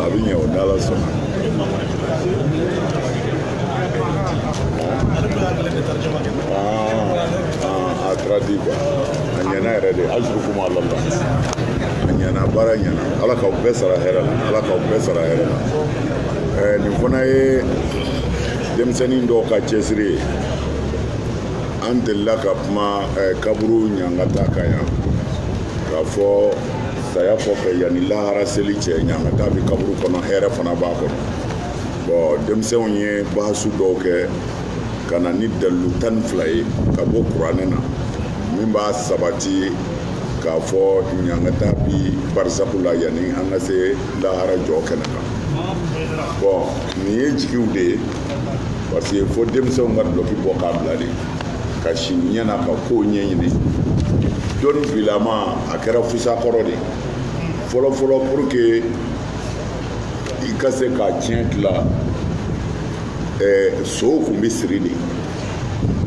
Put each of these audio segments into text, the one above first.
a bɛ ɲɛ o ni ala sɔnna. a taara di kuwa a ɲɛna yɛrɛ de ajurukum ala la a ɲɛna baara ɲɛna ala k'aw bɛɛ sara hɛrɛ la ala k'aw bɛɛ sara hɛrɛ la ɛɛ nin fana ye denmisɛnnin dɔw ka cɛsiri ye an delila ka kuma eh, kaburu ɲangata kan yan k'a fɔ saya kɔfɛ yanni lahara seli cɛ ɲangata bɛ kaburu kɔnɔ hɛrɛ fana b'a kɔnɔ bɔn denmisɛnw ye bahasu dɔw kɛ ka na ni dalilu tan ni fila ye ka bɔ kuranɛ na min b'a sabati k'a fɔ ɲangata bi barisaku la yanni an ka se lahara jɔ kɛnɛ kan bɔn nin ye jigiw de ye parce que fo denmisɛnw ka dulɔki bɔ k'a bila de ka si ɲɛna ka kow ɲɛɲini dɔnni bilama a kɛra fusa kɔrɔ de fɔlɔfɔlɔ pour que i ka se ka tiɲɛ tila eh, sow kun bɛ siri de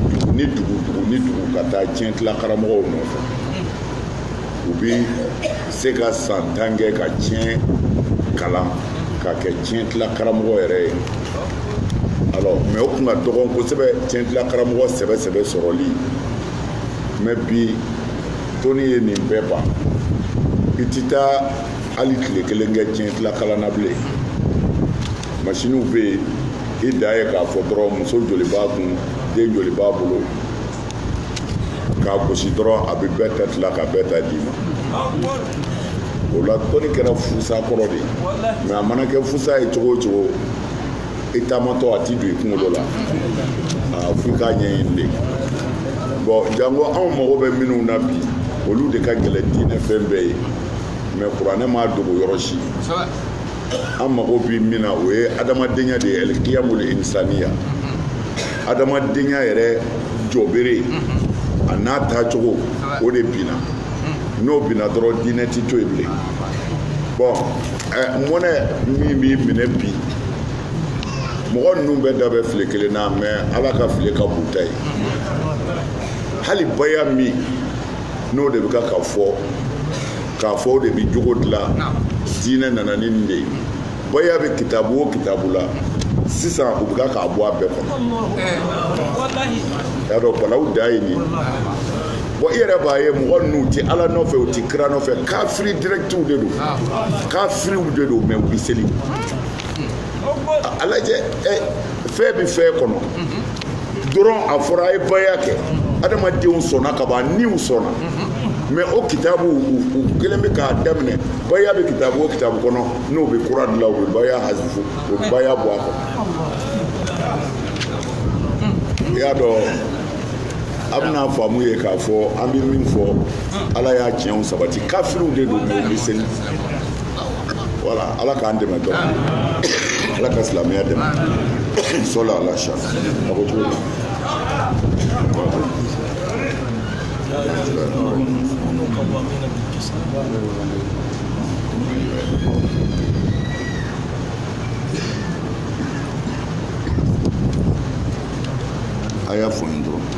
dugu ni dugu dugu ni dugu ka taa tiɲɛ tila karamɔgɔw nɔfɛ u bɛ se ka san tan kɛ ka tiɲɛ kalan ka kɛ tiɲɛ tila karamɔgɔ yɛrɛ ye alors mɛ o tun ka dɔgɔn kosɛbɛ tiɲɛ tila karamɔgɔ sɛbɛ sɛbɛ sɔrɔli mɛ bi dɔnni ye nin bɛɛ ban i ti taa hali tile kelen kɛ tiɲɛ tila kalan na bilen masiniw bɛ yen i dan ye k'a fɔ dɔrɔn muso joli b'a kun den joli b'a bolo k'a gosi dɔrɔn a bɛ bɛɛ ta tila ka bɛɛ ta d'i ma o la dɔnni kɛra fusa kɔrɔ de mɛ a mana kɛ fusa ye cogo o cogo i taamatɔ a ti don i kunkolo la f'i k'a ɲɛɲini de bɔn janko anw mago bɛ minnu na bi olu de ka gɛlɛn diinɛ fɛn bɛɛ ye mɛ kuranɛ m'a dogo yɔrɔ si an mago bɛ min na o ye adamadenya de ye alikiyamul insaniya adamadenya yɛrɛ jɔbere a n'a taacogo o de binna n'o binna dɔrɔn diinɛ ti to yen bilen bɔn eh, mɔnɛ min b'i minɛ bi mɔgɔ ninnu bɛɛ da bɛ file kelen na mɛ ala ka file ka bon u ta ye hali baya min n'o de bɛ ka ka fɔ k'a fɔ o de bɛ jogo dilan diinɛ nana ni nin de ye baya bɛ kitabu o kitabu la sisan u bɛ k'a bɔ a bɛɛ kɔnɔ y'a dɔn balawu da ye nin bɔn i yɛrɛ b'a ye mɔgɔ ninnu tɛ ala nɔfɛ u tɛ kira nɔfɛ kafiri dirɛkitiw de don kafiriw de don mɛ u bɛ seli a lajɛ ɛ fɛn bɛ fɛn kɔnɔ dɔrɔn a fɔra a ye baya kɛ adamadenw sɔnna ka ban niw sɔnna mɛ o kitabu u kelen bɛ k'a daminɛ baya bɛ kitabu o kitabu kɔnɔ n'o bɛ kura dilan o bɛ baya hazifu o bɛ baya bɔ a kɔnɔ i y'a dɔn a bɛna faamu ye k'a fɔ an bɛ min fɔ ala y'a tiɲɛw sabati kafiriw de don mɛ u bɛ seli wala ala k'an dɛmɛ dɔ ala ka silamɛya dɛmɛ sɔla ala sa a ko cogo a y'a fɔ n dɔrɔn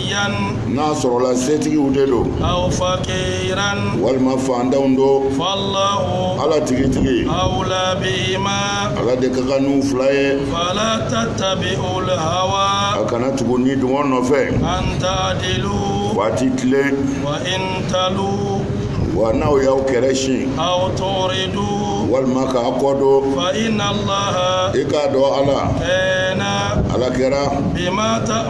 yan n'a sɔrɔla setigiw de don aw fakiran walima fantanw don fallahu ala tigitigi awla bihima ala de ka kan n'u fila ye fala tattabi'ul hawa a kana tugu nidungɔ nɔfɛ an ta'dilu fo a tɛ tilen wa in talwu wa n'aw y'aw kɛrɛ sin aw tu'ridu walima k'a kɔ don fa inna allaha i k'a dɔn ala kana ala kɛra bima ta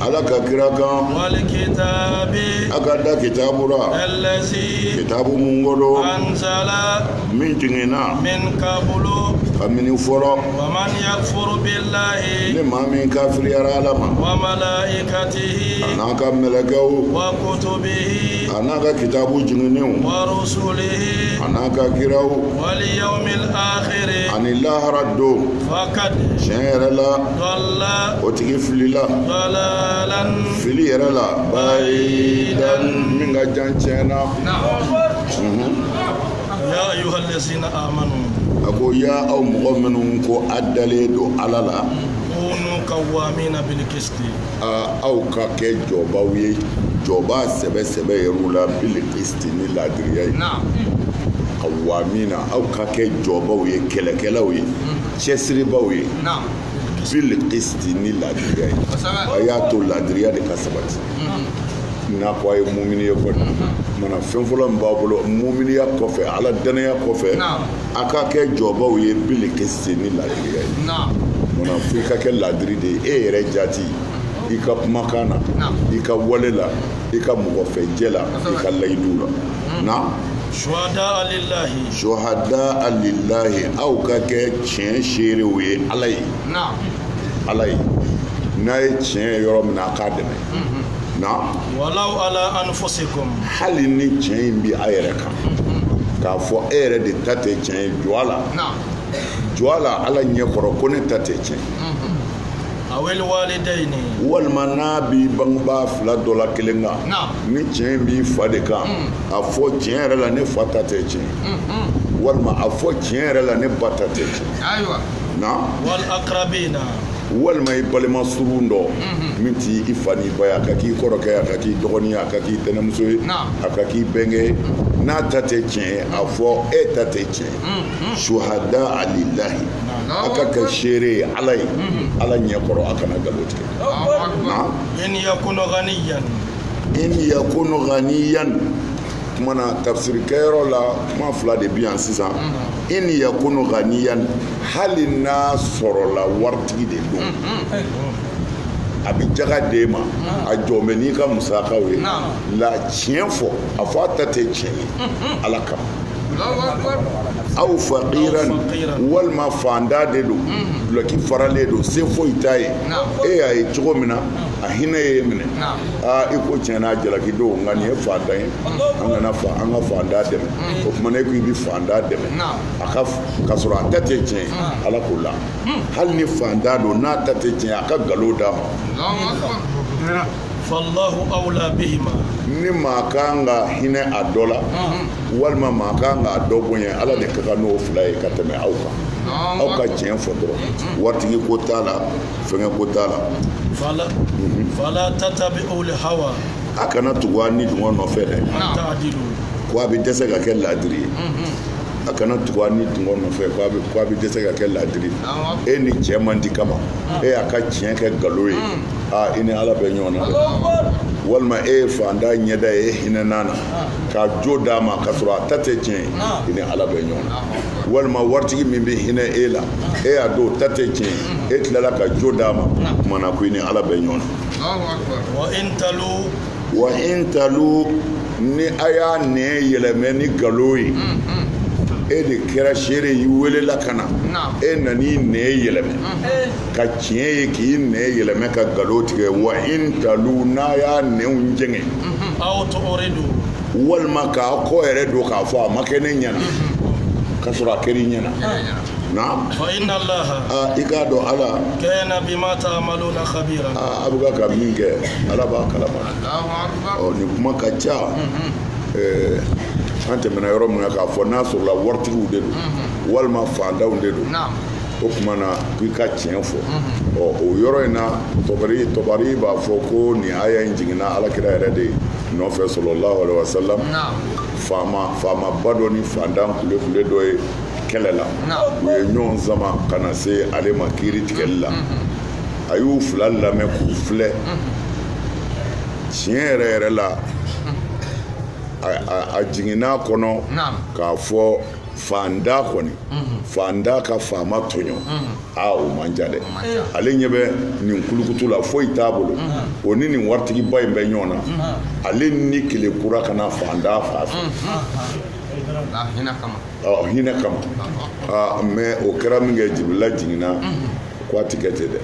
ala ka kira kan walikitaabi a ka da kitaabu ra alazi kitaabu mun ko don anzala min jiginna min kabulu kabini fɔlɔ waman yakfuru bilahi ni maa min kafiriyara ala ma wa malaikatihi a n'a ka mɛlɛkɛw wa kutubihi a n'a ka kitaabu jiginnenw wa rusulihi a n'a ka kiraw waliyawmil akhiri ani lahara don tiɲɛ yɛrɛ la o tigi filila fili yɛrɛ la bayidan min ka jan tiɲɛ na a ko ya aw mɔgɔ minnu ko a dalen don ala la aw ka kɛ jɔbaw ye jɔba sɛbɛ sɛbɛ yɛrɛw la bil kisti ni laadiriya ye kawamina aw ka kɛ jɔbaw ye kɛlɛkɛlaw ye cɛsiribaw ye bil kisti ni laadiriya ye a y'a to laadiriya de ka sabati n'a ko a ye mumini ye kɔni mana fɛn fɔlɔ min b'a bolo muminiya kɔfɛ ala dannaya kɔfɛ a ka kɛ jɔbaw ye bil kisti ni laadiriya ye mana fo i ka kɛ laadiri de ye e yɛrɛ jati i ka kumakan na i ka wale la i ka mɔgɔfɛjɛ la i ka layidu la na suhada'a lilahi aw ka kɛ tiɲɛ seerew ye ala ye ala ye n'a ye tiɲɛ ye yɔrɔ min na a k'a dɛmɛ na walaw ala anfusikum hali ni tiɲɛ in bɛ a yɛrɛ kan k'a fɔ e yɛrɛ de ta tɛ tiɲɛ ye jɔ a la jɔ a la ala ɲɛ kɔrɔ ko ne ta tɛ tiɲɛ walima n'a b'i bangebaa fila dɔ la kelen kan ni tiɲɛ in b'i fa de kan a fɔ tiɲɛ yɛrɛ la ne fa ta tɛ tiɲɛ walima a fɔ tiɲɛ yɛrɛ la ne ba ta tɛ tiɲɛ na walima i balima surun dɔ min t'i i fa n'i ba ye a ka k'i kɔrɔkɛ ye a ka k'i dɔgɔnin ye a ka k'i tɛnɛmuso ye a ka k'i bɛnkɛ ye n'a ta tɛ tiɲɛ ye a fɔ e ta tɛ tiɲɛ ye shuhadaa lilahi a ka kɛ seere ye ala ye ala ɲɛ kɔrɔ a kana nkalon tigɛ in yakunu ghaniyan kumana tafsirikɛyɔrɔ la kuma fila de bi yan sisan in yakunu ghaniyan hali n'a sɔrɔla waritigi de don a bɛ jaga d'e ma a jɔlen bɛ n'i ka musakaw ye la tiɲɛ fɔ a fɔ a ta tɛ tiɲɛ ye ala kama aw faqiran walima fantan de don dulɔki faralen don se foyi t'a ye e y'a ye cogo min na a hinɛ y'e minɛ aa i ko tiɲɛ na a jalaki don nka nin ye fantan ye an kana an ka fantan dɛmɛ o tuma n'e ko i bɛ fantan dɛmɛ a ka sɔrɔ a ta tɛ tiɲɛ ala k'o la hali ni fantan don n'a ta tɛ tiɲɛ a ka nkalon d'a ma fallahu awla bihima ni maa kan ka hinɛ a dɔ la walima maa kan ka dɔ bonya ala de ka kan n'o fila ye ka tɛmɛ aw kan aw ka tiɲɛ fɔ dɔrɔn waritigi ko t'a la fɛngɛ ko t'a la fala tatabiul hawa a kana tugu a ni dungɔ nɔfɛ dɛ ko a bɛ dɛsɛ ka kɛ laadiri ye a kana tugu a ni dungɔ nɔfɛ ko a bɛ dɛsɛ ka kɛ laadiri ye e ni cɛ man di kama e y'a ka tiɲɛ kɛ nkalon ye aa i ni ala bɛ ɲɔgɔn na walima e ye fantan ɲɛda ye e hinɛn'a na ka jo d'a ma ka sɔrɔ a ta tɛ tiɲɛ ye i ni ala bɛ ɲɔgɔn na walima waritigi min bɛ hinɛ e la e y'a dɔn a ta tɛ tiɲɛ ye e tilala ka jo d'a ma kumana ko i ni ala bɛ ɲɔgɔn na wa in talu ni a y'a nɛn yɛlɛmɛ ni nkalon ye e de kɛra seere y'i welela ka na e nan'i nɛn yɛlɛmɛ ka tiɲɛ ye k'i nɛn yɛlɛmɛ ka nkalon tigɛ wa in talu n'a y'a nɛnw jɛngɛ walima k'a kɔ yɛrɛ don k'a fɔ a ma kɛ ne ɲɛna ka sɔrɔ a kɛra i ɲɛna naam fa inna allaha aa i k'a dɔn ala kana bima ta'maluna khabira aa a bɛ ka ka min kɛ ala b'a kalama Allahu akbar ɔ nin kuma ka ca ɛɛ an tɛmɛna yɔrɔ min na k'a fɔ n'a sɔrɔla waritigiw de don walima fantanw de don naam o tuma na ko i ka tiɲɛ fɔ ɔ o yɔrɔ in na tɔbari tɔbari b'a fɔ ko nin aya in jiginna ala kira yɛrɛ de nɔfɛ sallallahu alaihi wasallam naam faama faamaba dɔ ni fantan kulekule dɔ ye kɛlɛ la u ye ɲɔgɔn sama ka na se ale ma kiiri tigɛli la a y'u fila lamɛn k'u filɛ tiɲɛ yɛrɛ yɛrɛ la a jiginn'a kɔnɔ k'a fɔ fantan kɔni fantan ka faama tɔɲɔ aa o man ca dɛ ale ɲɛ bɛ nin kulukutu la foyi t'a bolo o ni nin waritigiba in bɛ ɲɔgɔn na ale ni kelen kura ka na fantan fasa ɔ hinɛ kama aa mɛ o kɛra minkɛ jibirila jiginna ko a ti kɛ ten dɛ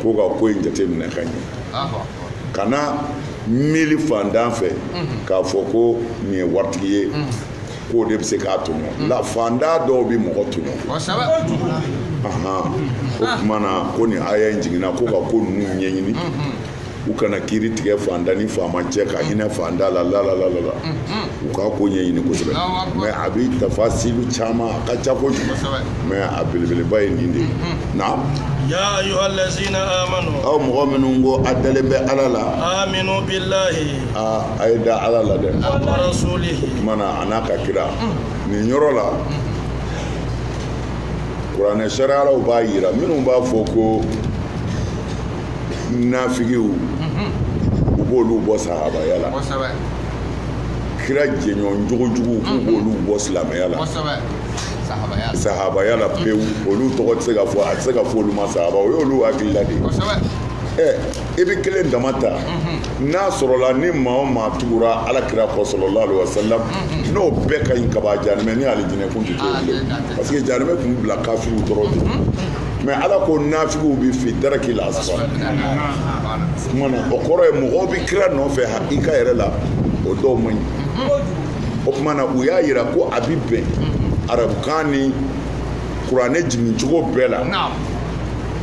ko ka ko in jateminɛ ka ɲɛ kana miiri fantan fɛ k'a fɔ ko nin ye waritigi ye k'o de bɛ se k'a tɔɲɔ la fantan dɔw bɛ mɔgɔ tɔɲɔ o tuma na ko nin aya in jiginna ko ka ko ninnu ɲɛɲini u kana kiiri tigɛ fantan ni faama cɛ ka hinɛ fantan la lalalala u ka ko ɲɛɲini kosɛbɛ mɛ a bɛ tafasilu caman a ka ca kojugu mɛ a belebeleba ye nin de ye naam aw mɔgɔ minnu ko a dalen bɛ ala la a ye da ala la dɛ o tuma na a n'a ka kira nin yɔrɔ la kuranɛ sariyalaw b'a jira minnu b'a fɔ ko nafigiw u b'olu bɔ sahabaya la kira jɛɲɔgɔn jogojugu k'u b'olu bɔ silamɛya la sahabaya la pewu olu tɔgɔ tɛ se ka fɔ a tɛ se ka fɔ olu ma sahaba o y'olu hakilila de ye ɛ i bɛ kelen dama ta n'a sɔrɔla ni maa o maa tugura ala kira kɔ sallallahu alaihi wasallam n'o bɛɛ ka ɲi kaban jahanɛmɛ ni alijinɛ kun tɛ to bilen parce que jahanɛmɛ tun bila kafiriw dɔrɔn de mɛ ala ko nafigiw bɛ fi daraki la asfali o tuma na o kɔrɔ ye mɔgɔw bɛ kira nɔfɛ hakika yɛrɛ la o dɔw man ɲi o tuma na u y'a yira ko a bɛ bɛn arabukan ni kuranɛ jigin cogo bɛɛ la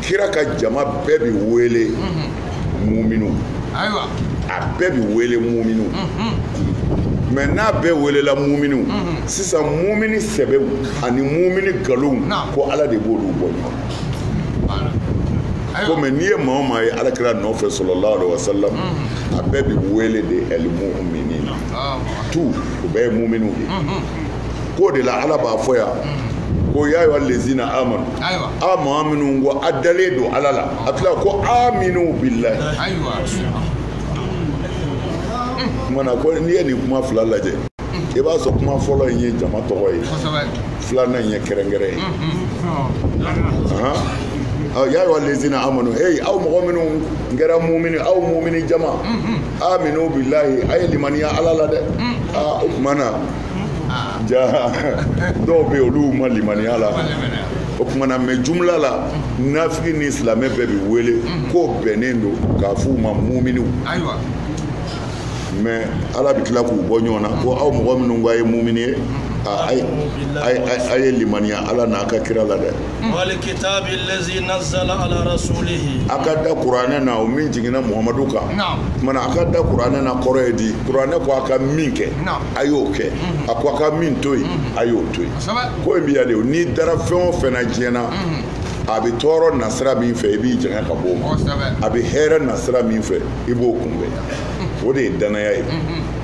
kira ka jama bɛɛ bɛ wele muminu ayiwa a bɛɛ bi wele muminu mɛ n'a bɛɛ welela muminu sisan mumini sɛbɛw ani mumini nkalonw ko ala de b'olu bɔ ɲɔgɔn komi n'i ye maa o maa ye ala kira nɔfɛ sallallahu alaihi wasallam a bɛɛ bi wele de al-muminin tu o bɛɛ ye muminiw de k'o de la ala b'a fɔ yan ko ya ayyuha lezina amanu a maa minnu ko a dalen don ala la a tila ko aminu bilahi kumana ko n'i ye nin kuma fila lajɛ i b'a sɔrɔ kuma fɔlɔ in ye jama tɔgɔ ye filanan in ye kɛrɛnkɛrɛn ye ya ayyuha lezina amanu hey aw mɔgɔ minnu kɛra mumini aw mumini jama aminu bilahi a ye limaniya ala la dɛ o kumana ja dɔw bɛ yen olu ma limaniya la o kumana mɛ jumla la nafigi ni silamɛ bɛɛ bɛ wele k'o bɛnnen don k'a f'u ma muminiw mɛ ala bɛ tila k'u bɔ ɲɔgɔn na ko aw mɔgɔ minnu ko a ye mumini ye a ye limaniya ala n'a ka kira la dɛ a ka da kuranɛ na o min jiginna muhamadu kan a ka da kuranɛ na kɔrɔ ye di kuranɛ ko a ka min kɛ a y'o kɛ a ko a ka min to yen a y'o to yen ko in bɛ yan de n'i dara fɛn o fɛn na diɲɛ na a bɛ tɔɔrɔ na sira min fɛ i b'i janya ka bɔ o ma a bɛ hɛrɛ na sira min fɛ i b'o kunbɛn o de ye danaya ye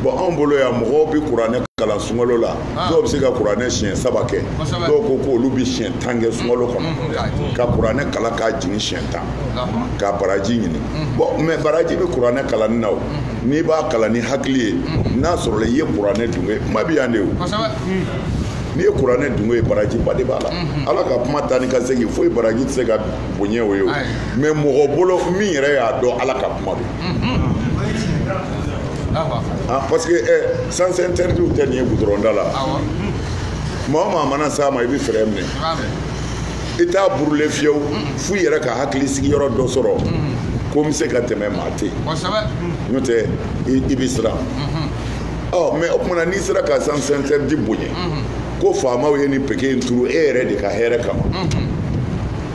bɔn anw bolo yan mɔgɔw bɛ kuranɛ kalan sunkalo la ah. dɔw bɛ se ka kuranɛ siɲɛ saba kɛ dɔw ko ko olu bɛ siɲɛ tan kɛ sunkalo kɔnɔ mm, mm, mm. ka kuranɛ kalan k'a jigin siɲɛ tan ka baraji ɲini bɔn mɛ baraji bɛ kuranɛ kalanni na o n'i b'a kalan ni hakili ye n'a sɔrɔla i ye kuranɛ dungɔ ye kuma bɛ yan de o n'i ye kuranɛ dungɔ ye barajiba de b'a la ala ka kuma taa ni ka segin foyi baraji tɛ se ka bonya o ye o mɛ mɔgɔ bolo min yɛrɛ y'a dɔn ala ka kuma don ah, parce que eh, sens interdit tɛ nin ye gudɔrɔnda la maa o maa mana s'a ma i bɛ fɛɛrɛ minɛ i t'a burule fiyewu f'i yɛrɛ ka hakili sigiyɔrɔ dɔ sɔrɔ ko n bɛ se ka tɛmɛ maa tɛ yen n'o tɛ i bɛ siran ɔ mɛ o kumana n'i sera ka sens interdit bonya ko faamaw ye nin peke in turu e yɛrɛ de ka hɛrɛ kama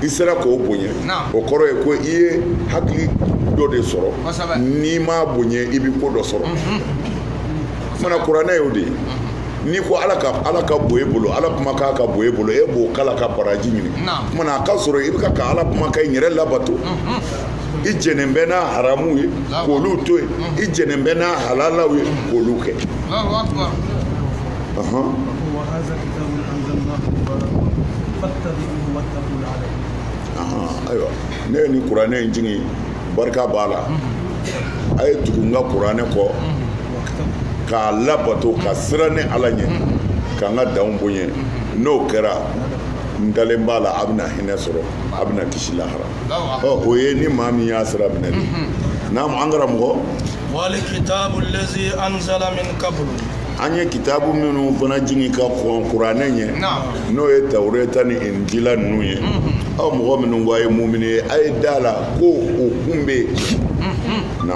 i sera k'o bonya o kɔrɔ ye ko i ye hakili dɔ de sɔrɔ n'i m'a bonya i bɛ ko dɔ sɔrɔ o kumana kuranɛ y'o de ye n'i ko ala ka ala kan bɛ e bolo ala kumakan bɛ e bolo e b'o kalan ka baraji ɲini mana a ka sɔrɔ i bɛ ka ala kumakan in yɛrɛ labato i jɛnnen bɛ n'a haramuw ye k'olu to yen i jɛnnen bɛ n'a halalaw ye k'olu kɛ ayiwa ne ye nin kuranɛ in jigin barika b'a la a ye tugu n ka kuranɛ kɔ k'a labato ka siran ne ala ɲɛ ka n ka danw bonya n'o kɛra n dalen b'a la a bɛna hinɛ sɔrɔ a bɛna kisi lahara ɔ o ye ni maa min y'a sira minɛ de naamu an karamɔgɔ wali kitabu lezi anzala min kabulu an ye kitabu minnu fana jigin ka kɔn kuranɛ ɲɛ n'o ye tawureta ni injila ninnu ye aw mɔgɔ minnu ko a ye mumini ye a ye da la ko o kun bɛ yen na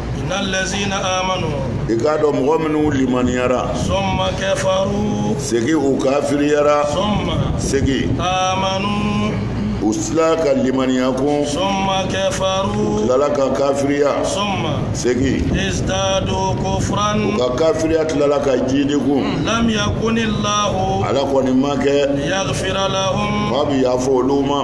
i k'a dɔn mɔgɔ minnu limaniyara segin u kafiriyara segin u sila ka limaniya kun u tilala ka kafiriya segin u ka kafiriya tilala ka jiidi kun ala kɔni ma kɛ k'a bɛ yafa olu ma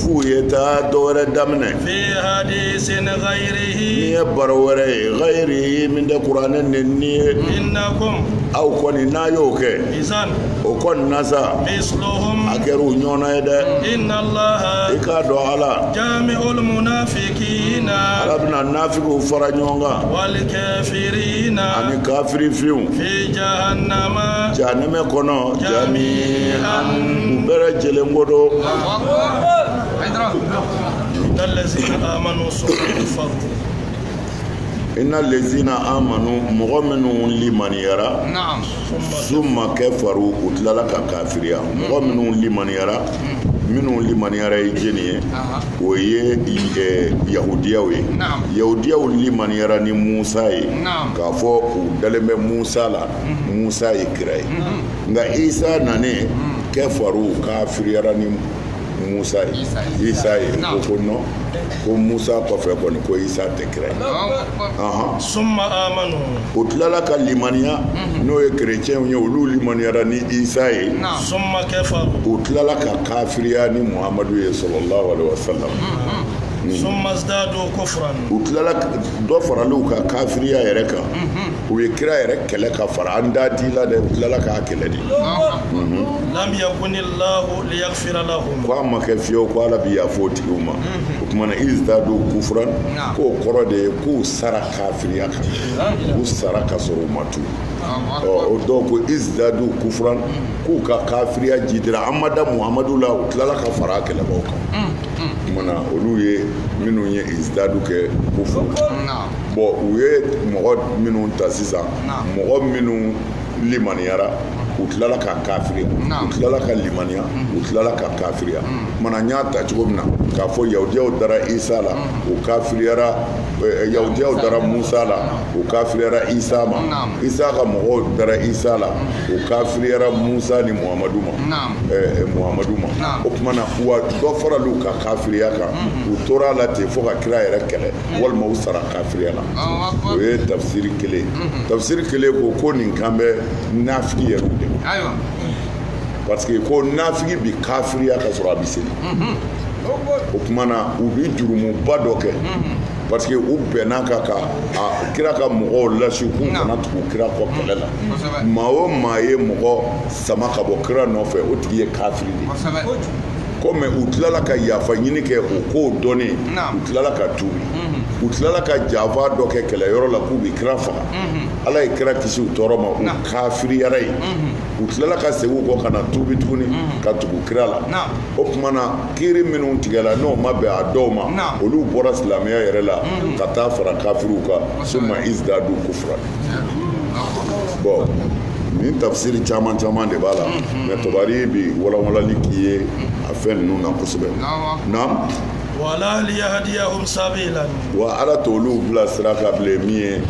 f'u ye taa dɔ wɛrɛ daminɛ n'i ye baro wɛrɛ ye ghayri min tɛ kuranɛ nɛni ye aw kɔni n'a y'o kɛ o kɔni na sa a kɛra u ɲɔgɔnna ye dɛ i k'a dɔn ala ala bɛna nafigiw fara ɲɔgɔn kan ani kafiri finw jahanamɛ kɔnɔ jami'an u bɛɛ lajɛlen ko don ina lezina amanu mɔgɔ minnu limaniyara summa kafaru u tilala ka kafiriya mɔgɔ minnu limaniyara minnu limaniyara ye jɛni ye o ye eh, yahudiyaw ye yahudiyaw limaniyara ni musa ye k'a fɔ u dalen bɛ musa la musa ye kira ye nka isa nanen kafaru u kafiriyara ni musa ye isa ye ko non ko musa kɔfɛ kɔni ko isa tɛ kira ye ahan summa amanu u tilala ka limaniya n'o ye kerecɛnw ye olu limaniyara ni isa ye summa kafaru u tilala ka kafiriya ni muhamadu ye sallallahu alaihi wasalam summa zdadu kufran u tilala dɔ farala u ka kafiriya yɛrɛ kan u ye kira yɛrɛ kɛlɛ ka fara an da di la dɛ u tilala k'a kɛlɛ de ko a ma kɛ fiyewu ko ala bi yaf'o tigiw ma o tuma na izdadu kufran k'o kɔrɔ de ye k'u sara kafiriya kan k'u sara ka sɔrɔ u ma tuubi dɔw ko izdadu kufran k'u ka kafiriya jidira an ma da muhamadu la u tilala ka fara a kɛlɛbaw kan o tuma na olu ye minnu ye izdadu kɛ kufran bɔn u ye mɔgɔ minnu ta sisan mɔgɔ minnu limaniyara u tilala ka kafiriya u tilala ka limaniya u tilala ka kafiriya mana n y'a ta cogo min na k'a fɔ yahudiyaw dara isa la u kafiriyara eh, yahudiyaw dara musa la u kafiriyara isa ma isa ka mɔgɔw dara isa la u kafiriyara musa ni muhamadu ma eh, eh, muhamadu ma o tuma na wa dɔ faral'u ka kafiriya kan u tora la ten fo ka kira yɛrɛ kɛlɛ walima u sara kafiriya la o ye tafsiri kelen tafsiri kelen ko ko nin kan bɛ nafigi yɛrɛ de ma parce que ko nafigi bi kafiriya ka sɔrɔ a bi seli o tuma na u bi jurumuba dɔ kɛ parce que u bɛnna ka ka a kira ka mɔgɔw lasi k'u kana tugu kira kɔ kɛlɛ la maa o maa ye mɔgɔ sama ka bɔ kira nɔfɛ o tigi ye kafiri de ye kɔmi u tilala ka yafa ɲini kɛ o kow dɔnnen u tilala ka tuubi u tilala ka janfa dɔ kɛ kɛlɛyɔrɔ la k'u bi kira faga ala ye kira kisi u tɔɔrɔ ma u kafiriyara ye u tilala ka segin u kɔ ka na tuubi tuguni ka tugu kira la o tuma na kiiri minnu tigɛla n'o ma bɛn a dɔw ma olu bɔra silamɛya yɛrɛ la ka taa fara kafiriw kan summa izdadu kufran bɔn nin tafsiri caman caman de b'a la mɛ tabari bi walawalali k'i ye a fɛn ninnu na kosɛbɛ naam wala liyahdiyahum sabila wa ala t'olu bila sira kan bilen min ye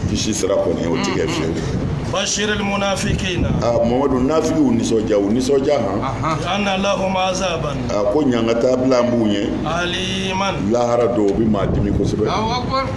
kisi sira kɔni o ti kɛ fiyewu bashiril munafikina a mamadu nafigiw nisɔndiya u nisɔndiya han anna lahum azaban a ko ɲangata bilalen b'u ye aliman lahara don o bi maa dimi kosɛbɛ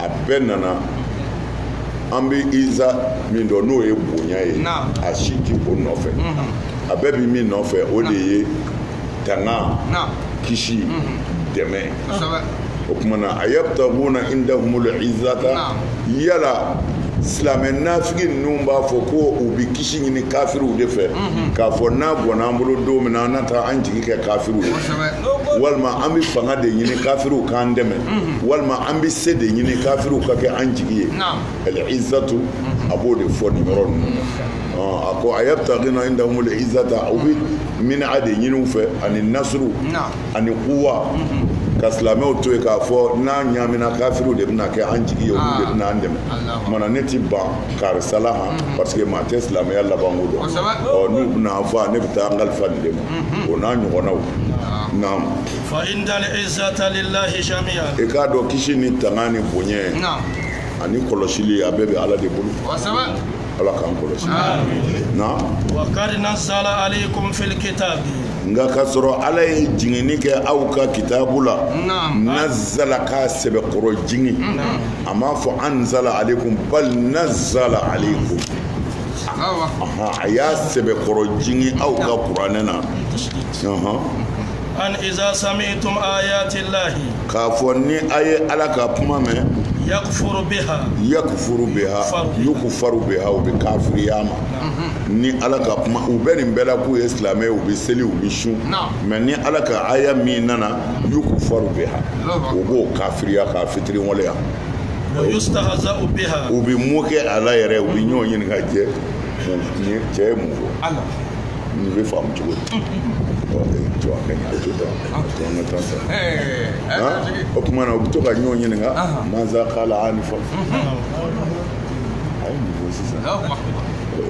a bɛɛ nana an bɛ iza min dɔn n'o ye bonya ye a si ti o nɔfɛ a bɛɛ bi min nɔfɛ o de ye tanga kisi dɛmɛ o tuma na ayabtaguna indahumul izzata yala silamɛ nafigi ninnu b'a fɔ ko u bi kisi ɲini kafiriw de fɛ k'a fɔ n'a bɔnna an bolo don min na an na taa an jigi kɛ kafiriw ye walima an bɛ fanga de ɲini kafiriw k'an dɛmɛ walima an bɛ se de ɲini kafiriw ka kɛ an jigi ye al-izzatu a b'o de fɔ nin yɔrɔ ninnu na a ko ayabtaguna indahumul izzata u bɛ min'a de ɲini u fɛ ani nasuru ani kuwa ka silamɛw to yen k'a fɔ n'a ɲaamina kafiriw de bɛna kɛ an jigi ye olu de bɛna an dɛmɛ maana ne ti ban karisa la han parce que maa tɛ silamɛya labanko dɔn ɔ n'u bɛna an faa ne bɛ taa n kalifa nin de ma o n'a ɲɔgɔnnaw naam fa innal izzata lillahi jami'an i k'a dɔn kisi ni tanga ni bonya ani kɔlɔsili a bɛɛ bɛ ala de bolo ala k'an kɔlɔsi naam wa qad nazzala alaykum fil kitabi nka k'a sɔrɔ ala ye jiginni kɛ aw ka kitabu la nazzala k'a sɛbɛkɔrɔ jigin a m'a fɔ anzala alaykum bal nazzala alaykum a y'a sɛbɛkɔrɔ jigin aw ka kuranɛ na an iza sami'tum ayati llahi k'a fɔ ni a ye ala ka kuma mɛn yakufuru biha yukufaru biha u bɛ kafiriya ma ni ala ka kuma u bɛ nin bɛɛ la k'u ye silamɛ u bɛ seli u bɛ sun mais ni ala ka aya min nana yukufaru biha u b'o kafiriya k'a fitiriwaleya u bɛ moquer a la yɛrɛ u bɛ ɲɔgɔn ɲininka cɛ cɛ ye mun fɔ Nin bɛ faamu cogo di jɔ a ka ɲi a bɛ to tan a bɛ to an ka tan san o tuma na u bɛ to ka ɲɔgɔn ɲininka maza kala anifa a ye mun fɔ sisan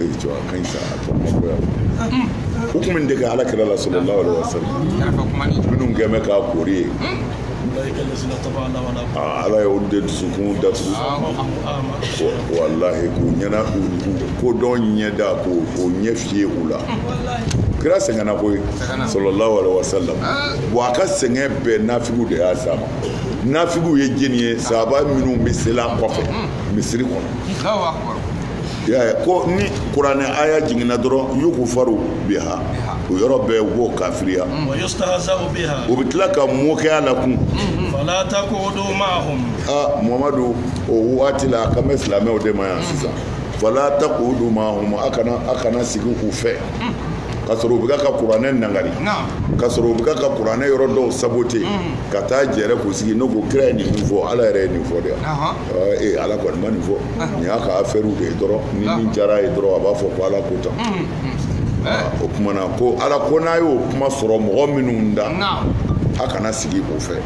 e jɔ a ka ɲi sa a to an ka bɔ yan u tun bɛ dege ala kira la sallallahu alaihi wa sallam minnu kɛ bɛ k'a kori ye ala ye olu de dusukun datugu walahi k'u ɲɛna ko dɔn ɲɛda k'u ɲɛ fiyɛ u la kira sɛgɛnna koyi sallallahu alaihi wa sallam bon a ka sɛgɛn bɛɛ nafigiw de y'a s'a ma nafigiw ye jɛni ye sahaba minnu bɛ seli a kɔfɛ misiri kɔnɔ y'a ye ko ni kuranɛ aya jiginna dɔrɔn yukufaru biha o yɔrɔ bɛɛ u b'o kafiriya u bɛ tila ka moquer a la kun a Muhamadu o waati la a kan bɛ silamɛw de ma yan sisan Fala taqudu ma'ahum a kana sigi u fɛ ka sɔrɔ u bɛ ka kuranɛ nagari ka sɔrɔ u bɛ ka kuranɛ yɔrɔ dɔw saboter ka taa jɛrɛ k'u sigi n'u ko kira ye nin min fɔ ala yɛrɛ ye nin fɔ de ee ala kɔni ma nin fɔ nin y'a ka affaire de ye dɔrɔn ni min diyara a ye dɔrɔn a b'a fɔ ko ala ko tan o tuma na ko ala ko n'a y'o kuma sɔrɔ mɔgɔ minnu da a kana sigi u fɛ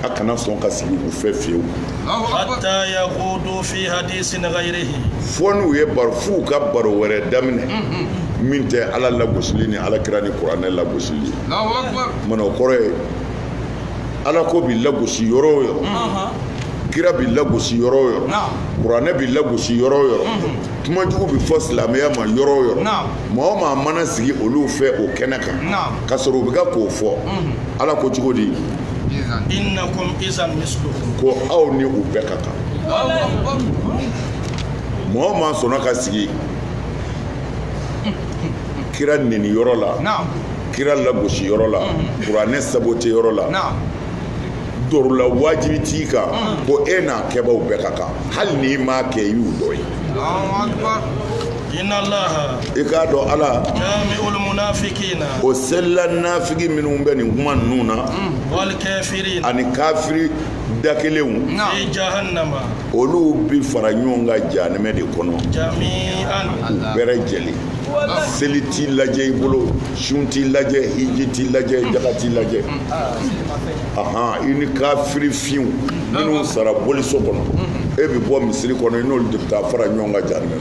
a kana sɔn ka sigi u fɛ fewu hatta yakhudu fi hadisin ghayrihi fo n'u ye baro f'u ka baro wɛrɛ daminɛ min tɛ ala lagosili ni ala kira ni kuranɛ lagosili maana o kɔrɔ ye ala ko bi lagosi yɔrɔ o yɔrɔ kira bi lagosi yɔrɔ o yɔrɔ kuranɛ bi lagosi yɔrɔ o yɔrɔ kuma jugu bi fɔ silamɛya ma yɔrɔ o yɔrɔ maa o maa mana sigi olu fɛ o kɛnɛ kan ka sɔrɔ u bɛ ka k'o fɔ ala ko cogo di ko aw ni u bɛɛ ka kan maa o maa sɔnna ka sigi kira neni yɔrɔ la kira lagosi yɔrɔ la mm-hmm. kuranɛ sabote yɔrɔ la darura wajibi t'i kan mm-hmm. ko e n'a kɛbaw bɛɛ ka kan hali n'i m'a kɛ i y'u dɔ ye i k'a dɔn ala o selila nafigi minnu bɛ nin kuma ninnu na mm. ani kafiri da kelenw olu bi fara ɲɔgɔn kan jahanɛmɛ de kɔnɔ bɛɛ lajɛlen seli ti lajɛ i bolo sun ti lajɛ hiji ti lajɛ jaga ti lajɛ mm. ahan i ni kafiri finw minnu sara boliso kɔnɔ mm. e bɛ bɔ misiri kɔnɔ i n'olu de bɛ taa fara ɲɔgɔn kan jahanɛmɛ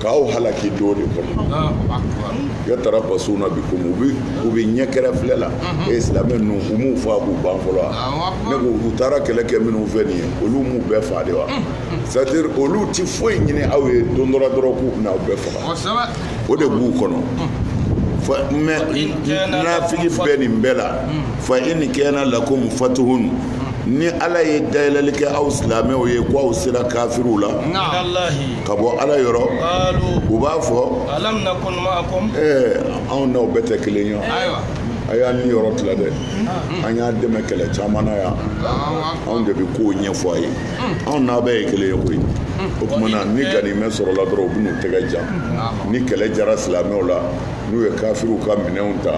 k'aw halaki don de kɔnɔ yatarabasuna bikum u bɛ u bɛ ɲɛ kɛrɛ filɛ la mhm. e silamɛ ninnu u m'u faa k'u ban fɔlɔ wa ne ko u taara kɛlɛ kɛ minnu fɛ nin ye olu m'u bɛɛ faa de wa mhm. c'est à dire olu ti foyi ɲini aw ye don dɔ la dɔrɔn k'u bɛna aw bɛɛ faga o de b'u kɔnɔ. Mhm. mais nafigi bɛ nin bɛɛ la fa in kana lakum fatuhun ni ala ye dayɛlɛli kɛ aw silamɛw ye ko aw sera kafiriw la ka bɔ ala yɔrɔ u b'a fɔ anw n'aw bɛɛ tɛ kelen ye a y'an niyɔrɔ tila dɛ an y'a dɛmɛ kɛlɛ caman na yan anw de bɛ kow ɲɛfɔ a ye anw n'a bɛɛ ye kelen ye koyi o tuma na ni ganimɛ sɔrɔla dɔrɔn u bɛ n'u tɛgɛ jan ni kɛlɛ jara silamɛw la n'u ye kafiriw ka minɛnw ta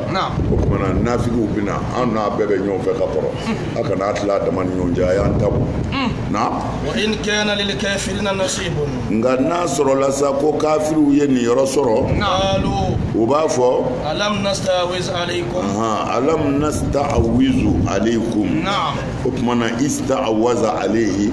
o tuma na nafigiw bɛ na an n'a bɛɛ bɛ ɲɔgɔn fɛ ka kɔrɔ a kana a tila a dama ni ɲɔgɔn cɛ a y'an ta bɔ na nka n'a sɔrɔla sa ko kafiriw ye niyɔrɔ sɔrɔ u b'a fɔ alam nasta'awizu alaykum o tuma na ista'awaza alayhi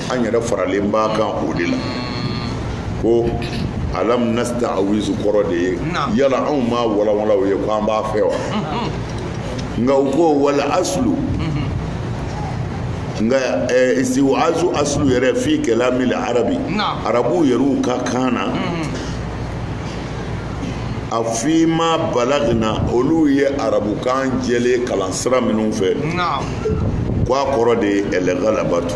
an yɛrɛ faralen b'a kan o de la ko alam nasta'awizu kɔrɔ de ye yala anw ma walawala a ye ko an b'a fɛ wa nka u ko wal aslu nka istiwazu aslu yɛrɛ fi kalamil arabi arabuw yɛrɛw ka kan na a fi ma balagina olu ye arabukan jɛlen kalan sira minnu fɛ ko a kɔrɔ de ye algalabatu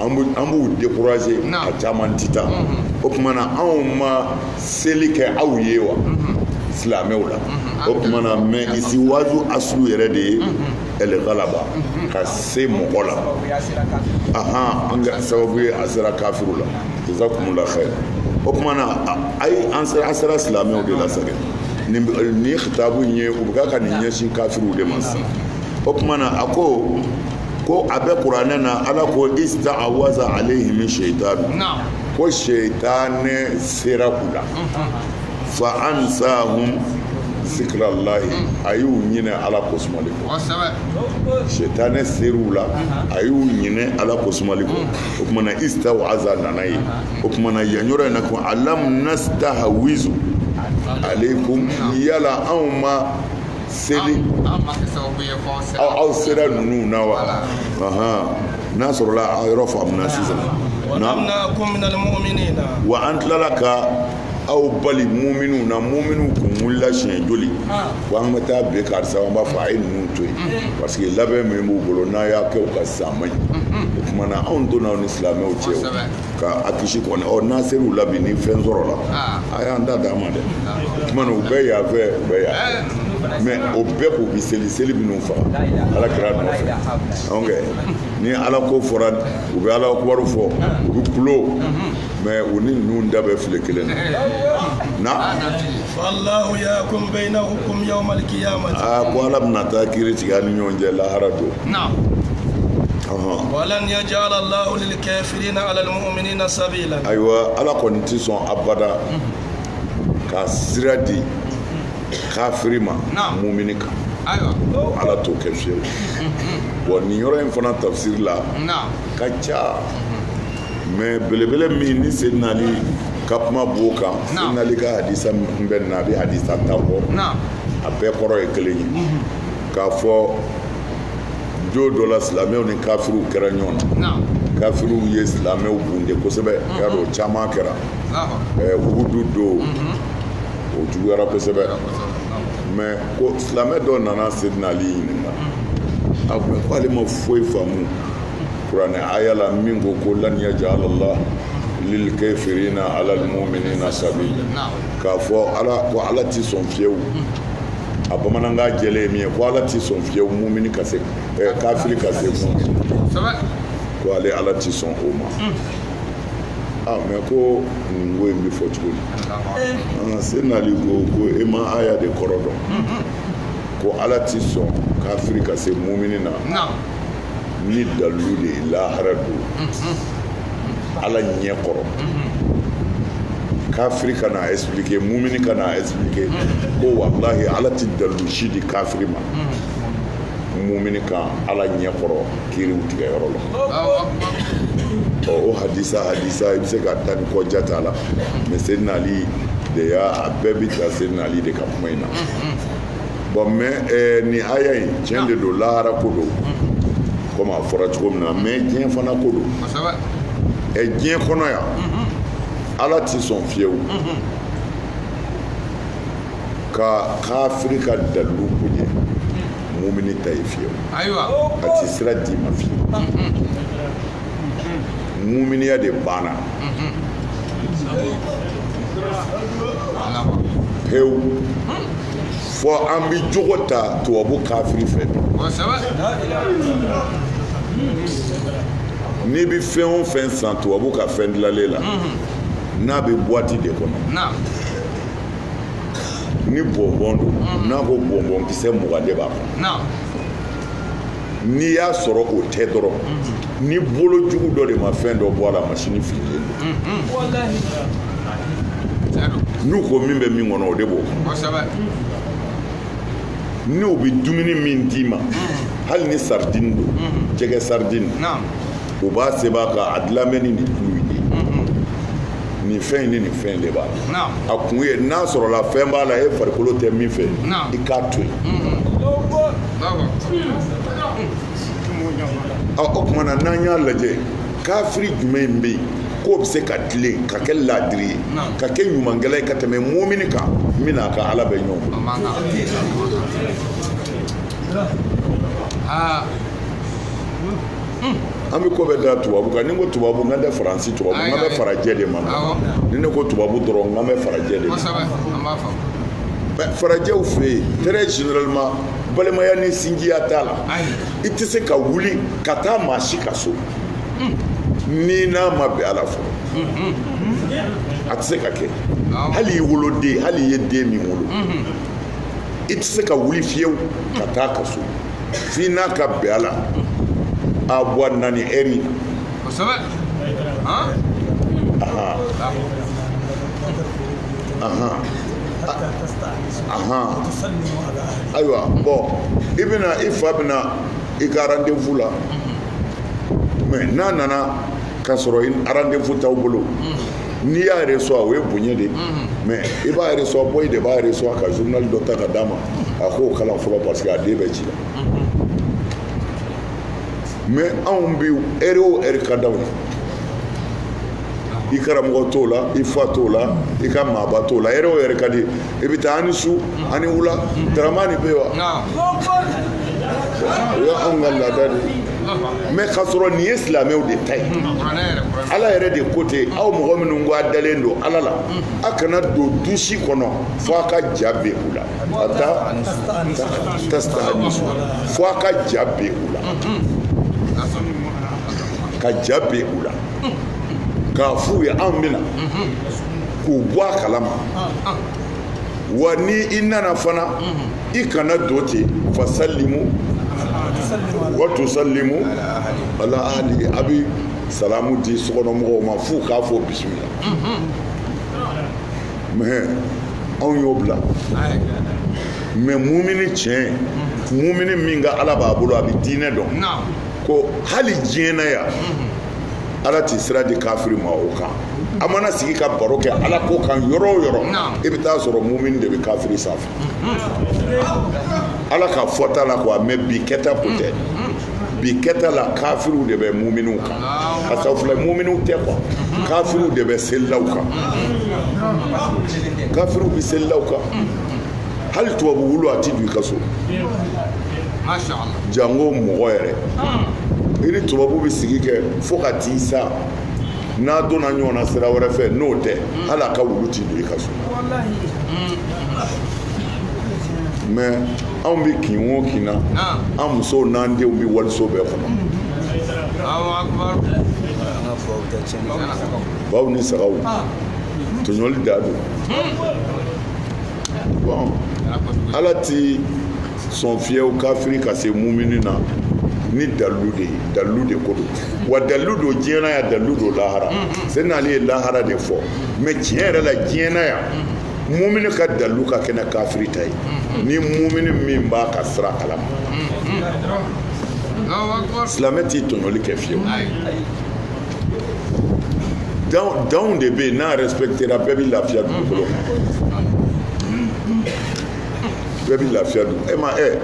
an b'u décourager a caman tɛ taa o tuma na anw ma seli kɛ aw ye wa silamɛw la o tuma na mais istihwazu aslu yɛrɛ de ye al-ghalaba ka se mɔgɔ la ahan an ka sababu ye a sera kafiru la jazakumullahu khair o tuma na ayi an sera an sera silamɛw de la parce que nin nin khitabu in ye u bɛ ka ka nin ɲɛsin kafiruw de ma sisan o tuma na a ko ko a bɛ kuranɛ na ala ko istahwaza alayhim shaytan ko seyitanɛ sera u la fa ansahum zikrallahi a y'u ɲinɛ ala ko sumali kɔ seyitanɛ ser'u la a y'u ɲinɛ ala ko sumali kɔ o tuma na istahwaza nana ye o tuma na yan yɔrɔ in na ko alam nastahwizu alaykum yala anw ma seli aw sera ninnu na wa n'a sɔrɔla a yɔrɔ faamuna sisan wa an tilala ka aw bali muminu na muminu kun wulila siɲɛ joli ko an bɛ taa bɛn karisa an b'a fɔ a ye ninnu to yen parce que labɛn min b'u bolo n'a y'a kɛ u ka san man ɲi o tuma na anw donna aw ni silamɛw cɛ ka a kisi kɔni ɔ n'a ser'u la bi ni fɛn sɔrɔla ah. a y'an ta d'an ma dɛ o tuma na u bɛɛ y'a fɛ u bɛɛ y'a fɛ mais o bɛɛ k'u bi seli seli minnu faga ala kira nɔfɛ donc ni ala ko fɔra u bɛ ala kubaru fɔ u bɛ kulo mais u ni ninnu da bɛ filen kelen na na a ko ala bɛna taa kiri tigɛ a ni ɲɔgɔn cɛ lahara don ayiwa ala kɔni tɛ sɔn abada ka sira di kafiri ma mumini kan ala t'o kɛ fiyewu bon nin yɔrɔ in fana tafsiri la ka ca mais belebele min ni sidina ali ka kuma b'o kan sidina ali ka hadisa min bɛ na a bɛ hadisa tan bɔ a bɛɛ kɔrɔ ye kelen ye k'a fɔ don dɔ la silamɛw ni kafiriw kɛra ɲɔgɔn na kafiriw ye silamɛw bunde kosɛbɛ mhm. y'a dɔn caman kɛra uhudu don mhm. o juguyara kosɛbɛ mais ko silamɛ dɔ nana sidina ali ɲininka mhm. a ko ko ale ma foyi faamu kuranɛ aya la min ko ko lan yajala allah lil kafirina ala al mu'minina sabila k'a fɔ ala ko ala ti sɔn fiyewu a bamanankan jɛlen ye min ye ko ala ti sɔn fiyewu mumini ka se eh, kafiri ka se mumini ko ale ala ti sɔn o ma hmm. ah mais ko nin ko in bɛ fɔ cogo di an sidina ali ko ko e ma aya de kɔrɔ dɔn hmm, hmm. ko ala ti sɔn kafiri ka se mumini na ni dalilu de ye lahara don ala ɲɛ kɔrɔ kafiri ka n'a expliquer mumini ka n'a expliquer ko walahi ala tɛ dalilu si di kafiri ma mumini kan ala ɲɛ kɔrɔ kiriw tigɛ yɔrɔ la ɔ o hadisa hadisa i bɛ se ka taa ni kɔ ja t'a la mɛ seyidina ali de y'a a bɛɛ bɛ taa seyidina ali de ka kuma in na bɔn mɛ eh, ni aya in tiɲɛ de don lahara ko don komi a fɔra cogo min na mɛ diɲɛ fana ko don eh, diɲɛ kɔnɔ yan mm-hmm. ala tɛ sɔn fiyewu mm-hmm. ka kafiri ka dalilu bonya mumini ta ye fiyewu a tɛ sira d'i ma fiyewu mm-hmm. muminiya de banna pewu fo an bɛ jogo ta tubabu kafiri fɛ n'i bɛ fɛn o fɛn san tubabu ka fɛn dilanlen la n'a bɛ buwati de kɔnɔ ni bɔnbɔn don n'a ko bɔnbɔn kisɛ mugan de b'a kɔnɔ n'i y'a sɔrɔ o tɛ dɔrɔn ni bolo jugu dɔ de ma fɛn dɔ bɔ a la masini fililen don n'u ko min bɛ min kɔnɔ o de b'o n'u bɛ dumuni min d'i ma hali ni saridini don jɛgɛ saridini o b'a sɛbɛn a kan a dilannen bɛ ni nin tulu in de nin fɛn in ni nin fɛn de b'a la a kun ye n'a sɔrɔla fɛn b'a la e farikolo tɛ min fɛ i k'a to yen o tuma na n'an y'a lajɛ kafiri jumɛn bɛ yen k'o bɛ se ka tilen ka kɛ laadiri ye ka kɛ ɲumankɛla ye ka tɛmɛ mumini kan min n'a ka ala bɛ ɲɔgɔn bolo an bɛ ko bɛɛ da tubabu kan ni n ko tubabu n kan tɛ faransi tubabu n kan bɛ farajɛ de ma ni ne ko tubabu dɔrɔn n kan bɛ farajɛ de farajɛw fɛ yen très généralement balimaya ni sinjiya t'a la i tɛ se ka wuli ka taa maa si ka so n'i n'a ma bɛn a la fɔlɔ a tɛ se ka kɛ hali i woloden hali i ye den min wolo i tɛ se ka wuli fiyewu ka taa a ka so f'i n'a ka bɛn a la a bɛ na nin heure in na ayiwa bɔn i bɛna i fa bɛna i ka rendez-vous la mɛ n'a nana k'a sɔrɔ rendez-vous t'aw bolo n'i y'a reçoit o ye bonya de ye mɛ i b'a reçoit boy de b'a reçoit ka journal dɔ ta ka d'a ma a k'o kalan fɔlɔ parce que a den bɛ ci la mais anw bi heure o heure ka d'anw ye i karamɔgɔ t'o la i fa t'o la i ka maaba t'o la heure o heure ka di i bɛ taa ani su ani wula daramani bɛ wa o ye anw ka laada de ye mais k'a sɔrɔ nin ye silamɛw de ta ye ala yɛrɛ de ko ten aw mɔgɔ minnu ko a dalen don ala la a kana don du si kɔnɔ fo a ka ja bɛ u la hata tastahanisu fo a ka ja bɛ u la ka ja bɛ u la k'a f'u ye anw bɛ na k'u bɔ a kalama wa ni i nana fana i kana don ten fasalimu wa tusalimu ala ahali a bɛ salamu di sokɔnɔmɔgɔw ma f'u k'a fɔ bisimila mais anw y'o bila mais mumini tiɲɛ mumini min ka ala b'a bolo a bɛ diinɛ dɔn ko hali diɲɛ na yan ala ti sira di kafiri ma o kan a mana sigi ka baro kɛ ala ko kan yɔrɔ o yɔrɔ i bɛ t'a sɔrɔ mumini de bɛ kafiri sanfɛ ala ka fɔta la quoi mais bi kɛta ko tɛ bi kɛta la kafiriw de bɛ muminiw kan parce que filɛ muminiw tɛ quoi kafiriw de bɛ selilaw kan kafiriw bɛ selilaw kan hali tubabu wulu a ti don i ka so jango mɔgɔ yɛrɛ i ni tubabu bɛ sigi kɛ fo ka t'i sa n'a donna ɲɔgɔn na sira wɛrɛ fɛ n'o tɛ hali a ka wulu ti don i ka so mais anw bɛ kin o kin na an musow n'an denw bɛ waliso bɛɛ kɔnɔ baw ni sagaw tɔɲɔli da don bon ala ti sɔn fiyewu kafiri ka se mumini na ni dalilu de ye dalilu de ko don wa dalilu don diɲɛ na yan dalilu don lahara c'est n'ale ye lahara de fɔ mais tiɲɛ yɛrɛ la diɲɛ na yan mumini ka dalilu ka kɛnɛ kafiri ta ye mm-hmm. ni mumini min b'a ka sira kalama mm-hmm. silamɛ ti tɔɲɔli kɛ fiyewu danw de bɛ yen n'a respectera bɛɛ bɛ lafiya dugukolo kan mm-hmm. bɛɛ bɛ lafiya dugu mais e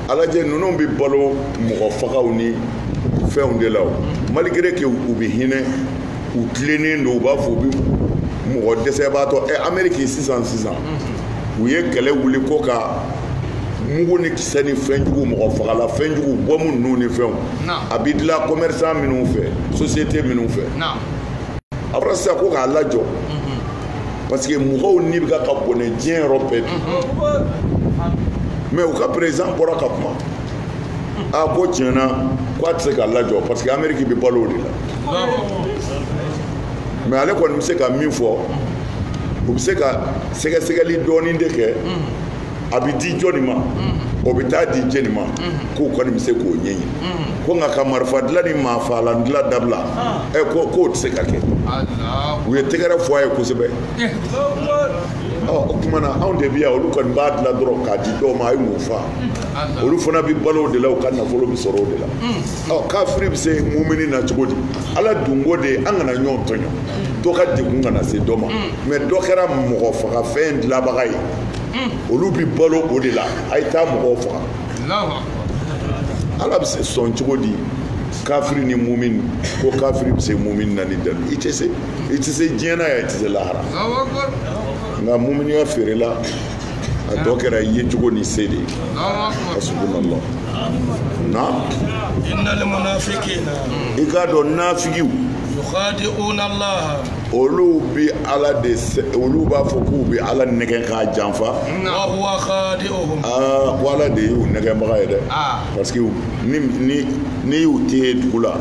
a lajɛ ninnu bɛ balo mɔgɔfagaw ni fɛnw de la o malgré que u bɛ hinɛ u tilennen don u b'a fɔ u bɛ mɔgɔ dɛsɛbaatɔ ɛ eh, ameriki sisan sisan u ye kɛlɛ wuli ko ka mugu ni kisɛ ni fɛnjugu mɔgɔfagalan fɛnjugu bɔmu ninnu ni fɛnw a bɛ dilan commerçant minnu fɛ société minnu fɛ a fɔra sisan ko k'a lajɔ mhm. parce que mɔgɔw ni bɛ ka bɔnɛ diɲɛ yɔrɔ bɛɛ bi mhm. mais u ka président bɔra ka kuma a ko tiɲɛ na ko a tɛ se k'a lajɔ parce que ameriki bɛ balo o de la mais ale kɔni bɛ se ka min fɔ u bɛ se ka sɛgɛsɛgɛli dɔɔni de kɛ a bɛ di jɔni ma o bɛ taa di jɛni ma k'u kɔni bɛ se k'o ɲɛɲini ko nka ka marifa dilan ni maafaalan dilan dabila ɛ ko k'o tɛ se ka kɛ u ye tɛgɛrɛ fɔ a ye kosɛbɛ o tuma na anw de bɛ yan olu kɔni b'a dilan dɔrɔn k'a di dɔw ma a ye mun fa olu fana bɛ balo o de la u ka nafolo bɛ sɔrɔ o de la ɔ kafiri bɛ se mumini na cogo di ala dungɔ de ye an kana ɲɔgɔn tɔɲɔ dɔ ka degun kana se dɔ ma mais dɔ kɛra mɔgɔ faga fɛn dilanbaga ye olu bɛ balo o de la a ye taa mɔgɔw faga ala bɛ se sɔn cogo di kafiri ni mumini ko kafiri bɛ se mumini na ni dalu i tɛ se i tɛ se diɲɛ na yan i tɛ se lahara nka muminiya feerela a tɔ kɛra i ye cogo ni se de ye hasbunallah na innal munafiqina i k'a dɔn nafigiw yukhadi'una Allah olu bi ala de olu b'a fɔ k'u bi ala nɛgɛ k'a janfa wa huwa khadi'uhum ko ala de y'u nɛgɛbaga ye dɛ parce que ni ni ni y'u tɛ dugu la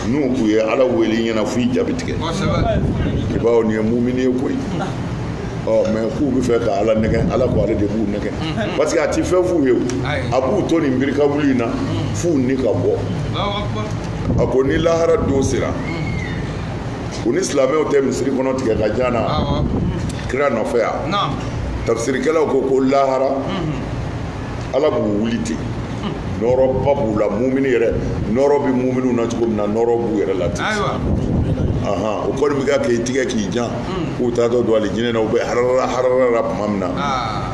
n'u k'u ye ala wele i ɲɛna f'i ja bi tigɛ i b'a dɔn nin ye mumini ye koyi mais k'u bɛ fɛ ka ala nɛgɛ ala ko ale de b'u nɛgɛ parce que a tɛ fɛn f'u ye a b'u to nin biri ka wuli in na f'u ni ka bɔ a ko ni lahara don sera u ni silamɛw tɛ misiri kɔnɔ tigɛ ka jan na kira nɔfɛ yan tafisirikɛlaw ko ko lahara ala b'u wuli ten nɔɔrɔba b'u la mumini yɛrɛ nɔɔrɔ bɛ muminiw na cogo min na nɔɔrɔ b'u yɛrɛ la ten o kɔni bɛ ka k'i tigɛ k'i jan hmm. k'u taatɔ don alijinɛ na u bɛ harara harara la tuma min na ah.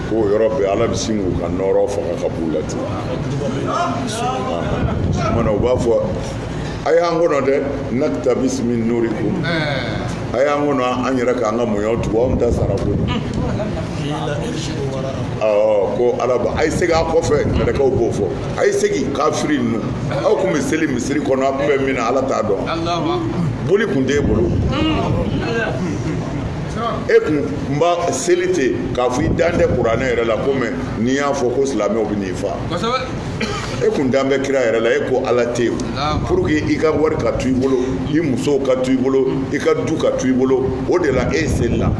k'o yɔrɔ bɛɛ ala bɛ sin k'u ka nɔɔrɔ faga ka b'u la ten ah. u b'a fɔ a y'an kɔnɔ dɛ naktabis min nurikum a y'an kɔnɔ an yɛrɛ k'an ka mɔɲɔ tugu anw ta sara ko ko ala ba a ye segin a kɔfɛ mɛlɛkɛw b'o fɔ a ye segin kafiri ninnu aw tun bɛ seli misiri kɔnɔ a tun bɛ min na ala t'a dɔn boli tun t'e bolo e kun b'a seli ten k'a fɔ i dan tɛ kuranɛ yɛrɛ la ko mais n'i y'a fɔ ko silamɛw bɛ n'i fa e kun dan bɛ kira yɛrɛ la e ko ala tɛ yen pour que i ka wari ka to i bolo i musow ka to i bolo i ka du ka to i bolo o de la e selila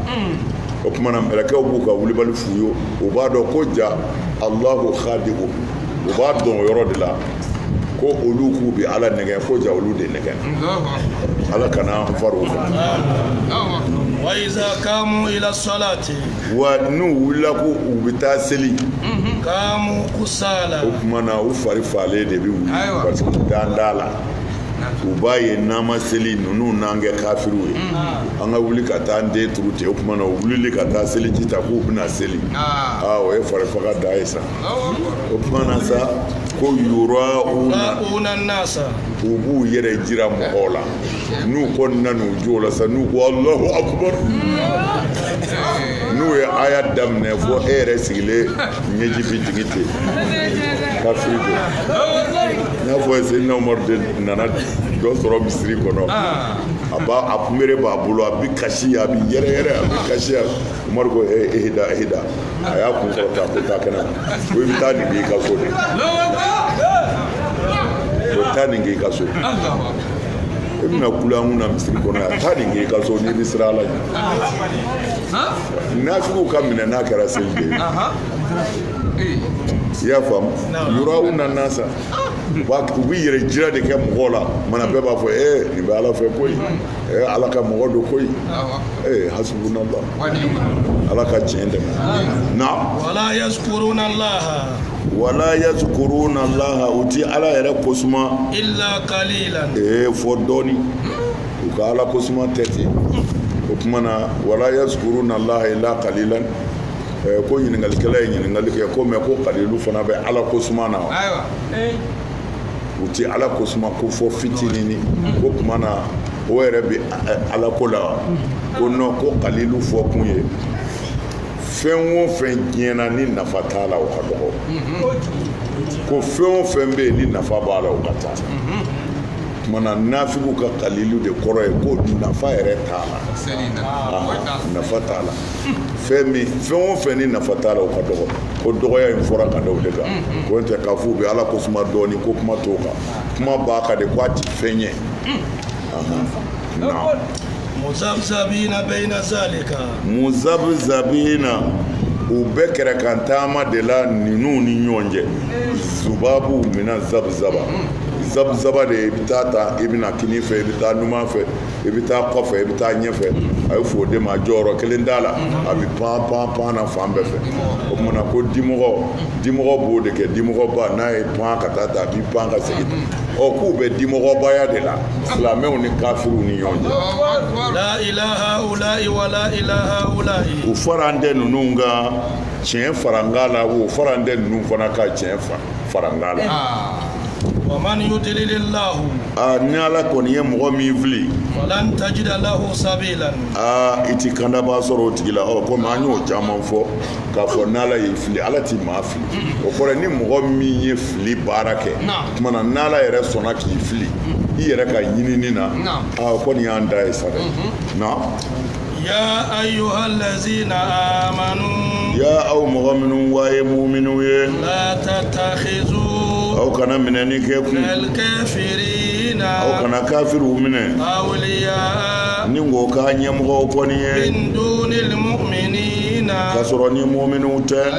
o tuma na mɛlɛkɛw b'u ka wulibali f'u ye u b'a dɔn ko ja alahu khadi'u u b'a dɔn o yɔrɔ de la ko olu k'u bɛ ala nɛgɛ ko ja olu de nɛgɛ ala kana an fara o kan wa n'u wulila ko u bɛ taa seli kaamu kusala o tuma na u fari falen de bɛ wuli Ayiwa. parce que u dan t'a la u b'a ye n'an ma seli ninnu n'an kɛ kafiriw ye an ka wuli ka taa an ten turu ten o tuma na u wulili ka taa seliji ta k'u bɛna seli Ah. aa o ye farifaga da ye sa Allahu akbar. o tuma na sa ko yura'una yura'una nasa u b'u yɛrɛ jira mɔgɔw la n'u kɔni na n'u jɔla sa n'u ko alahu akubar n'u ye aya daminɛ fo e yɛrɛ sigilen ɲɛji bi jigin ten kafiri don n'a fɔ seyidina umaru de nana dɔ sɔrɔ misiri kɔnɔ a b'a a kunbere b'a bolo a bi kasi a bi yɛrɛyɛrɛ a bi kasi a umaru ko ee ehida ehida a y'a kun kɔrɔta ko taa kɛnɛ ma ko i bɛ taa nin k'i ka so de ko taa nin k'i ka so e bɛna kula an kunna misiri kɔnɔ yan taa nin kɛ i ka so n'i bɛ siran ala ɲɛ nafigiw ka minɛ n'a kɛra seli de ye i y'a faamu yura'una nasa u b'a u bɛ yɛrɛ jira de kɛ mɔgɔw la mana bɛɛ b'a fɔ ee nin bɛ ala fɛ koyi ee ala ka mɔgɔ don koyi ee hasubunala ala ka tiɲɛ dɛmɛ na. wala yazkuruna allaha. wala yazkuruna allaha u ti ala yɛrɛ kosuma illa qalilan ee fɔ dɔɔni u ka ala kosuma tɛ ten o tuma na wala yazkuruna allaha illa qalilan eh, ko ɲininkalikɛla ye ɲininkali kɛ ko mɛ ko kalilu fana bɛ ala kosuma na wa u ti ala kosuma ko fɔ fitinini ko tuma na o yɛrɛ bɛ ala ko la wa ko non ko kalilu fɔ kun ye fɛn o fɛn diɲɛ na ni nafa t'a la o ka dɔgɔ ko fɛn o fɛn bɛ yen ni nafa b'a la o ka ca tuma na nafigiw ka kalilu de kɔrɔ ye ko nafa yɛrɛ t'a la nafa t'a la fɛn min fɛn o fɛn ni nafa t'a la o ka dɔgɔ ko dɔgɔya in fɔra ka da o de kan ko n tɛ k'a fɔ u bɛ ala kosuma dɔɔnin ko kuma t'o kan kuma b'a kan de ko a ti fɛn ye. muzabzabina bayna zalika muzabzabina u bɛ kɛrɛ kan taama de la ninnu ni ɲɔgɔn cɛ zubabu mina zabzaba zabzaba de i bɛ taa ta i bɛ na kini fɛ i bɛ taa numan fɛ i bɛ taa kɔfɛ i bɛ taa ɲɛfɛ a ye fɔ o de ma jɔyɔrɔ kelen t'a la a bɛ pan pan pan na fan bɛɛ fɛ o tuma na ko dimɔgɔ dimɔgɔ b'o de kɛ dimɔgɔba n'a ye pan ka taa ta a b'i pan ka segin ɔ k'u bɛ dimɔgɔbaya de la silamɛw ni kafiriw ni ɲɔgɔn cɛ u faralen tɛ ninnu kan tiɲɛ farankan la o faralen tɛ ninnu fana kan tiɲɛ farankan la aa ni ala kɔni ye mɔgɔ min fili aa i ti kandabaa sɔrɔ o tigi la ɔ komi an y'o caman fɔ k'a fɔ n'ala y'i fili ala ti maa fili o kɔrɔ ni mɔgɔ min ye fili baara kɛ tuma na n'ala yɛrɛ sɔnna k'i fili i yɛrɛ ka ɲinini na a kɔni y'an da ye sa dɛ na ya ayyuhallazina amanu ya aw mɔgɔ minnu wa ye muminw ye la tattakhizu aw kana minɛni kɛ kun kafirina aw kana kafiriw minɛ awliya ni ko k'a ɲɛmɔgɔw kɔni ye min dunil mu'minina k'a sɔrɔ ni muminw tɛ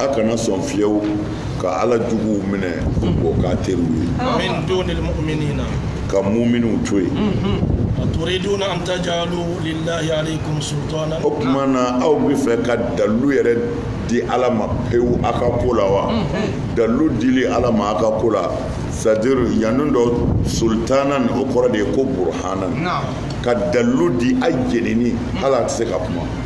a kana sɔn fiyewu ka ala juguw minɛ k'o k'a teriw ye min dunil muminina ka muminiw to yen aturiduna an tajalu lillahi alaykum sultana o tuma na aw bɛ fɛ ka dalilu yɛrɛ di ala ma pewu a ka ko la wa dalilu dili ala ma a ka ko la c'est-à-dire yanni dɔ sultanan o kɔrɔ de ye ko burhanan ka dalilu di a jenini la a tɛ se ka kuma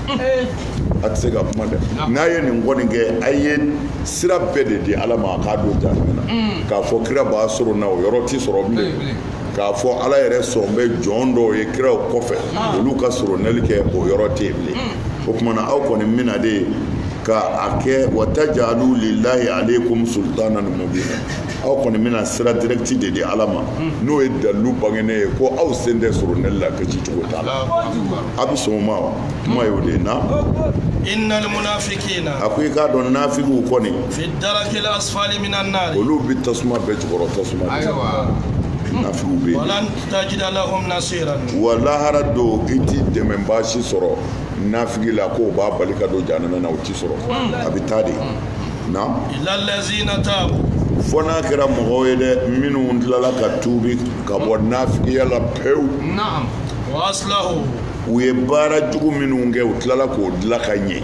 a tɛ se ka kuma dɛ n'a ye nin kɔni kɛ a ye sira bɛɛ de di ala ma a k'a don jahanama na mm. k'a fɔ kira b'a sorona o yɔrɔ tɛ sɔrɔ bilen k'a fɔ ala yɛrɛ sɔn bɛ jɔn dɔw ye kiraw kɔfɛ ah. olu ka soronali kɛ o yɔrɔ tɛ yen bilen mm. o tuma na aw kɔni bɛna de ka a kɛ wa tajalu lillahi alaykum sultanan mubina aw kɔni bɛna sira direct de di ala ma mm. n'o ye dalilu bangenen ye ko aw sen tɛ soronali la kisi cogo t'a la a bɛ sɔn o ma wa kuma y'o de ye na innal munafiqina a ko i k'a dɔn nafigiw kɔni fi darakil asfali minan nar olu bɛ tasuma bɛɛ jukɔrɔ tasuma de ayiwa nafigiw bɛ yen walan tajida lahum nasiran wa lahara don i ti dɛmɛbaa si sɔrɔ nafigi la k'o b'a bali ka don jahanama na o ti sɔrɔ a bɛ taa de na illa allazina tabu fo n'a kɛra mɔgɔw ye dɛ minnu tilala ka tuubi ka bɔ nafigiya la pewu na'am u ye baara jugu minnu kɛ u tilala k'o dilan ka ɲɛ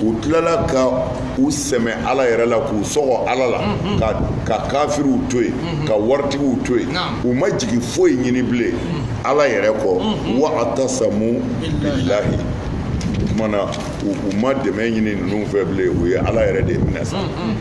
u tilala ka u sɛmɛ ala yɛrɛ la k'u sɔgɔ ala la mm-hmm. ka kafiriw to yen mm-hmm. ka waritigiw to yen u ma jigi foyi ɲini bilen mm-hmm. ala yɛrɛ kɔ wa tasamu billahi kumana u ma dɛmɛ ɲini ninnu fɛ bilen u ye ala yɛrɛ de minɛ sa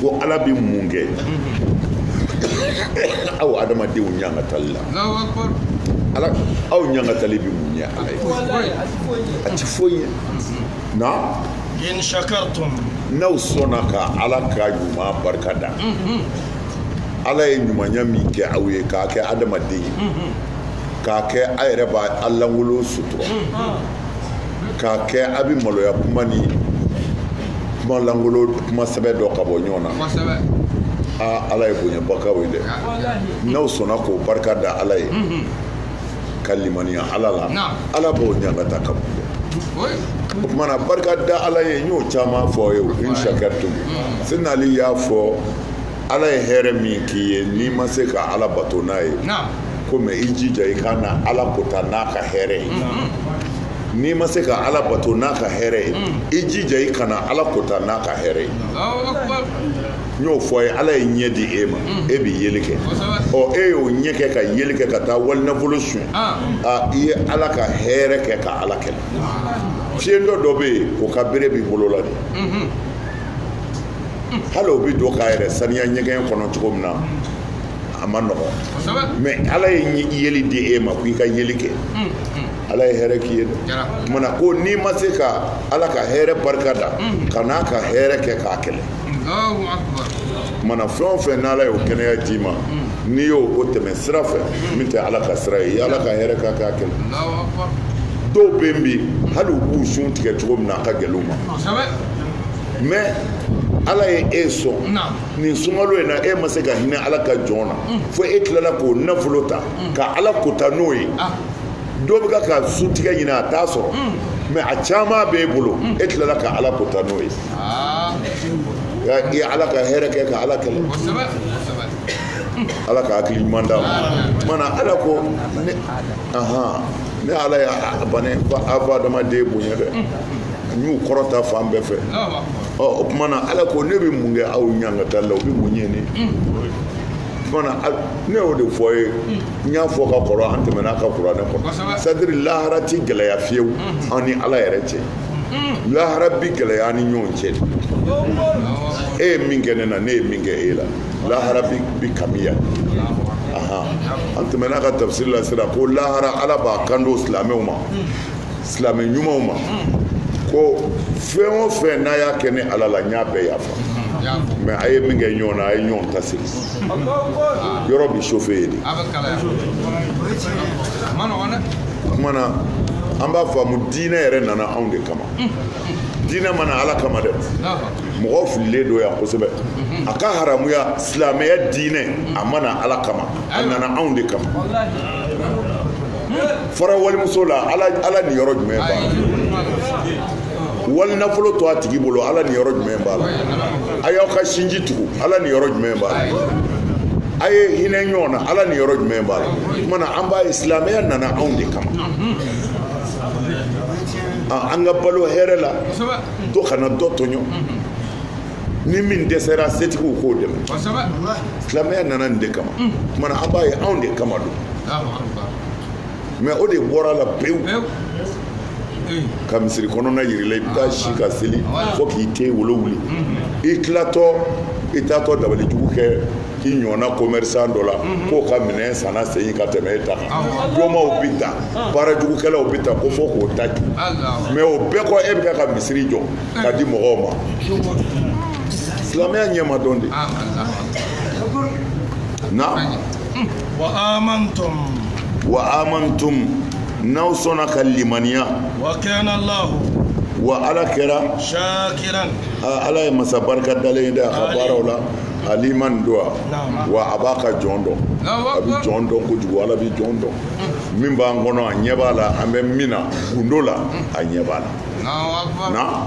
ko ala bɛ mun kɛ aw adamadenw ɲangatali la ala aw ɲangatali bɛ mun ɲɛ ala ye a ti foyi ye na in shakartum n'aw sɔnna ka ala ka ɲuman barika da mhm. ala ye ɲumanya min kɛ aw ye k'a kɛ adamaden ye mhm. k'a kɛ a yɛrɛ b'a lankolon sutura mhm. k'a kɛ a bɛ maloya kuma ni kuma langolo kuma sɛbɛ dɔn ka bɔ ɲɔgɔn na aa ala ye bonyaba k'aw ye dɛ n'aw sɔnna k'o barika da ala ye mhm. ka limaniya ala la ala b'o ɲangata ka bon dɛ o tumana barika da ala ye n y'o caman fɔ aw ye o in shakartum mhm. sinali y'a fɔ ala ye hɛrɛ min k'i ye n'i ma se ka ala bato n'a ye ko mɛ i jija i kana ala kota n'a ka hɛrɛ ye n'i ma se ka ala bato n'a ka hɛrɛ ye i jija i kana ala kota n'a ka hɛrɛ ye n y'o fɔ a ye ala ye ɲɛ di e ma e bɛ yeli kɛ ɔ e y'o ɲɛ kɛ ka yeli kɛ ka taa wali nafolo suɲɛ i ye ala ka hɛrɛ kɛ ka ala kɛlɛ fiyentɔ dɔ bɛ yen o ka bere b'i bolo la de hali o bɛ don k'a yɛrɛ saniya ɲɛgɛn kɔnɔ cogo min na a man nɔgɔn mɛ ala ye yeli di e ma ko i ka yeli kɛ mm, mm. ala ye hɛrɛ k'i ye mana ko n'i ma se ka ala ka hɛrɛ barika da mm. kan'a ka hɛrɛ kɛ k'a kɛlɛ mana fɛn o fɛn n'ala y'o kɛnɛya d'i ma n'i y'o tɛmɛ sira fɛ min tɛ ala ka sira ye i y'ala ka hɛrɛ kɛ k'a kɛlɛ dɔw bɛ yen bi hali u b'u sun tigɛ cogo min na a ka gɛlɛn u ma mais ala ye e sɔn nin sunkalo in na e ma se ka hinɛ ala ka jɔn na mm. fo e tilala k'o nafolo ta mm. ka ala kota n'o ye ah. dɔ bɛ k'a ka sun tigɛ ɲini a t'a sɔrɔ mm. mɛ a caman b'e bolo e tilala ka ala kota n'o ye ah. i ye ala ka hɛrɛ kɛ ka ala kɛlɛ ala ka hakili ɲuman d'an ma mana ala ko ne ala ye bana ko a ba adamaden bonya dɛ n y'u kɔrɔta fan bɛɛ fɛ o tuma na ala ko ne bɛ mun kɛ aw ɲangata la o bɛ mun ɲɛ ne ne y'o de fɔ ye n y'a fɔ ka kɔrɔ an tɛmɛn'a kan kuranɛ kɔnɔ c'est-à-dire lahara tɛ gɛlɛya fiyewu an ni ala yɛrɛ cɛ lahara bi gɛlɛya an ni ɲɔgɔn cɛ e ye min kɛ ne na ne ye min kɛ e la lahara bi kamiya an tɛmɛn'a kan tafsiri la sira ko lahara ala b'a kanto silamɛw ma silamɛ ɲumanw ma ko fɛn o fɛn n'a y'a kɛ ne ala la n y'a bɛɛ yafa mais a ye min kɛ ɲɔgɔn na a ye ɲɔgɔn ta segin yɔrɔ bi chauffé yen de o tuma na an b'a faamu diinɛ yɛrɛ nana anw de kama diinɛ ma na ala kama dɛ mɔgɔ fililen don yan kosɛbɛ a ka haramuya silamɛya diinɛ a ma na ala kama a nana anw de kama fara walimuso la ala niyɔrɔ jumɛn b'a la wali nafolo to a tigi bolo ala niyɔrɔ jumɛn b'a la a y'aw ka sinji tugu ala niyɔrɔ jumɛn b'a la a ye hinɛ ɲɔgɔn na ala niyɔrɔ jumɛn b'a la tuma na an b'a ye silamɛya nana anw de kama an ka balo hɛrɛ la dɔ kana dɔ tɔɲɔ ni min dɛsɛra setigiw k'o dɛmɛ silamɛya nana nin de kama tuma na an b'a ye anw de kama don mais o de bɔra la pewu ka misiri kɔnɔna yir'i la i bɛ taa si ka seli fo k'i ten wolo wuli i tilatɔ i taatɔ dabali jugu kɛ i ɲɔgɔnna commerçant dɔ la k'o ka minɛn sanna segin ka tɛmɛ e ta kan domaw bɛ ta baara jugukɛlaw bɛ ta ko fo k'o ta ju mais o bɛɛ kɔ e bɛ ka misiri jɔ ka di mɔgɔw ma silamɛya ɲɛ ma dɔn de na wa amantum wa amantum n'aw sɔnna ka limaniya wa kana allah wa ala kɛra shakiran ala ye masa barika dalen ye dɛ a ka baaraw la aliman don wa a b'a ka jɔn dɔn a bɛ jɔn dɔn kojugu ala bɛ jɔn dɔn min b'an kɔnɔ a ɲɛ b'a la an bɛ min na gundo la a ɲɛ b'a la na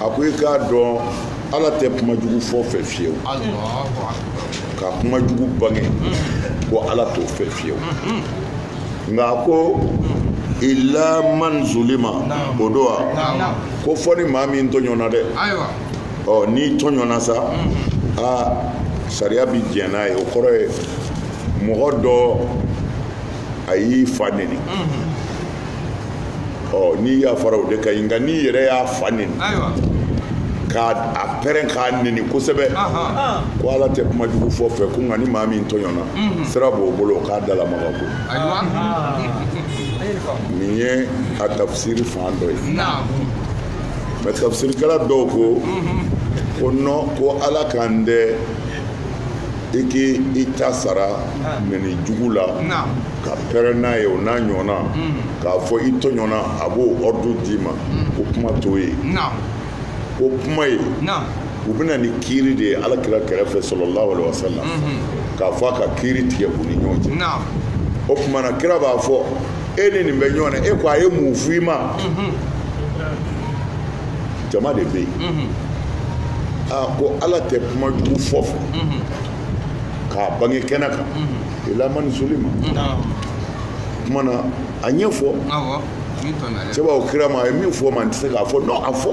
a ko i k'a dɔn ala tɛ kuma jugu fɔ fɛ fiyewu ka kuma jugu bange ko ala t'o fɛ fiyewu nka a ko illa man zulima o don wa ko fo ni maa min tɔɲɔna dɛ ɔ n'i tɔɲɔna sa aa sariya bi jɛn n'a ye o kɔrɔ ye mɔgɔ dɔ a y'i fa neni ɔ n'i yafara o de ka ɲi nka n'i yɛrɛ y'a fa neni k'a pɛrɛn k'a neni kosɛbɛ ko ala tɛ kuma jugu fɔ fɛ ko nka ni maa min tɔɲɔna mhm. sira b'o bolo o k'a dalamaga ko nin ye a tafsiri fan dɔ ye mais tafsirikɛla dɔw ko mhm. ko non ko ala kan tɛ i k'i ta sara ah. neni jugu la ka pɛrɛn n'a ye o n'a ɲɔgɔnna mm. k'a fɔ i tɔɲɔna a b'o ordre d'i ma mm. ko kuma t'o ye ko kuma ye u bɛ na ni kiiri de ye ala kira kɛrɛfɛ sallallahu alaihi wasallam mm-hmm. k'a fɔ a ka kiiri tigɛ u ni ɲɔgɔn cɛ o tuma na kira b'a fɔ e ni nin bɛ ɲɔgɔn na e ko a ye mun f'i ma mm-hmm. jama de bɛ yen aa ko ala tɛ kuma jugu fɔ fɛ k'a bange kɛnɛ kan ila man zulima kuma na a ɲɛfɔ cɛ b'a fɔ kira ma a ye min fɔ n ma n tɛ se k'a fɔ non a fɔ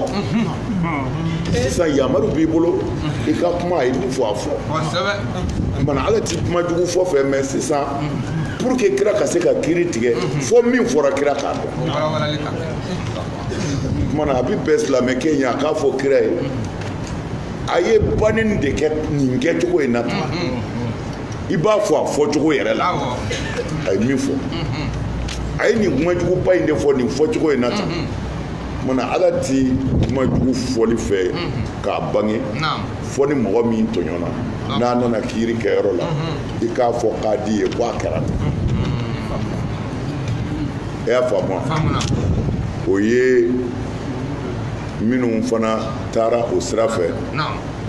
sisan yamaru b'i bolo i ka kuma a ye min fɔ a fɔ kumana ala ti kuma jugu fɔ fɛ mais sisan pour que kira ka se ka kiiri tigɛ fo min fɔra kira k'a dɔn kumana a bi bɛn silamɛkɛ in a k'a fɔ kira ye a ye baneni de kɛ nin kɛcogo in na tan i b'a fɔ a fɔcogo yɛrɛ la a ye min fɔ a ye nin kumajuguba in de fɔ nin fɔcogo in na tan kumana ala ti kumajugu fɔli fɛ k'a bange fo ni mɔgɔ min tɔɲɔna n'a nana kiiri kɛyɔrɔ la i k'a fɔ kadi ye ko a kɛra tan e y'a faamu o ye minnu fana taara o sira fɛ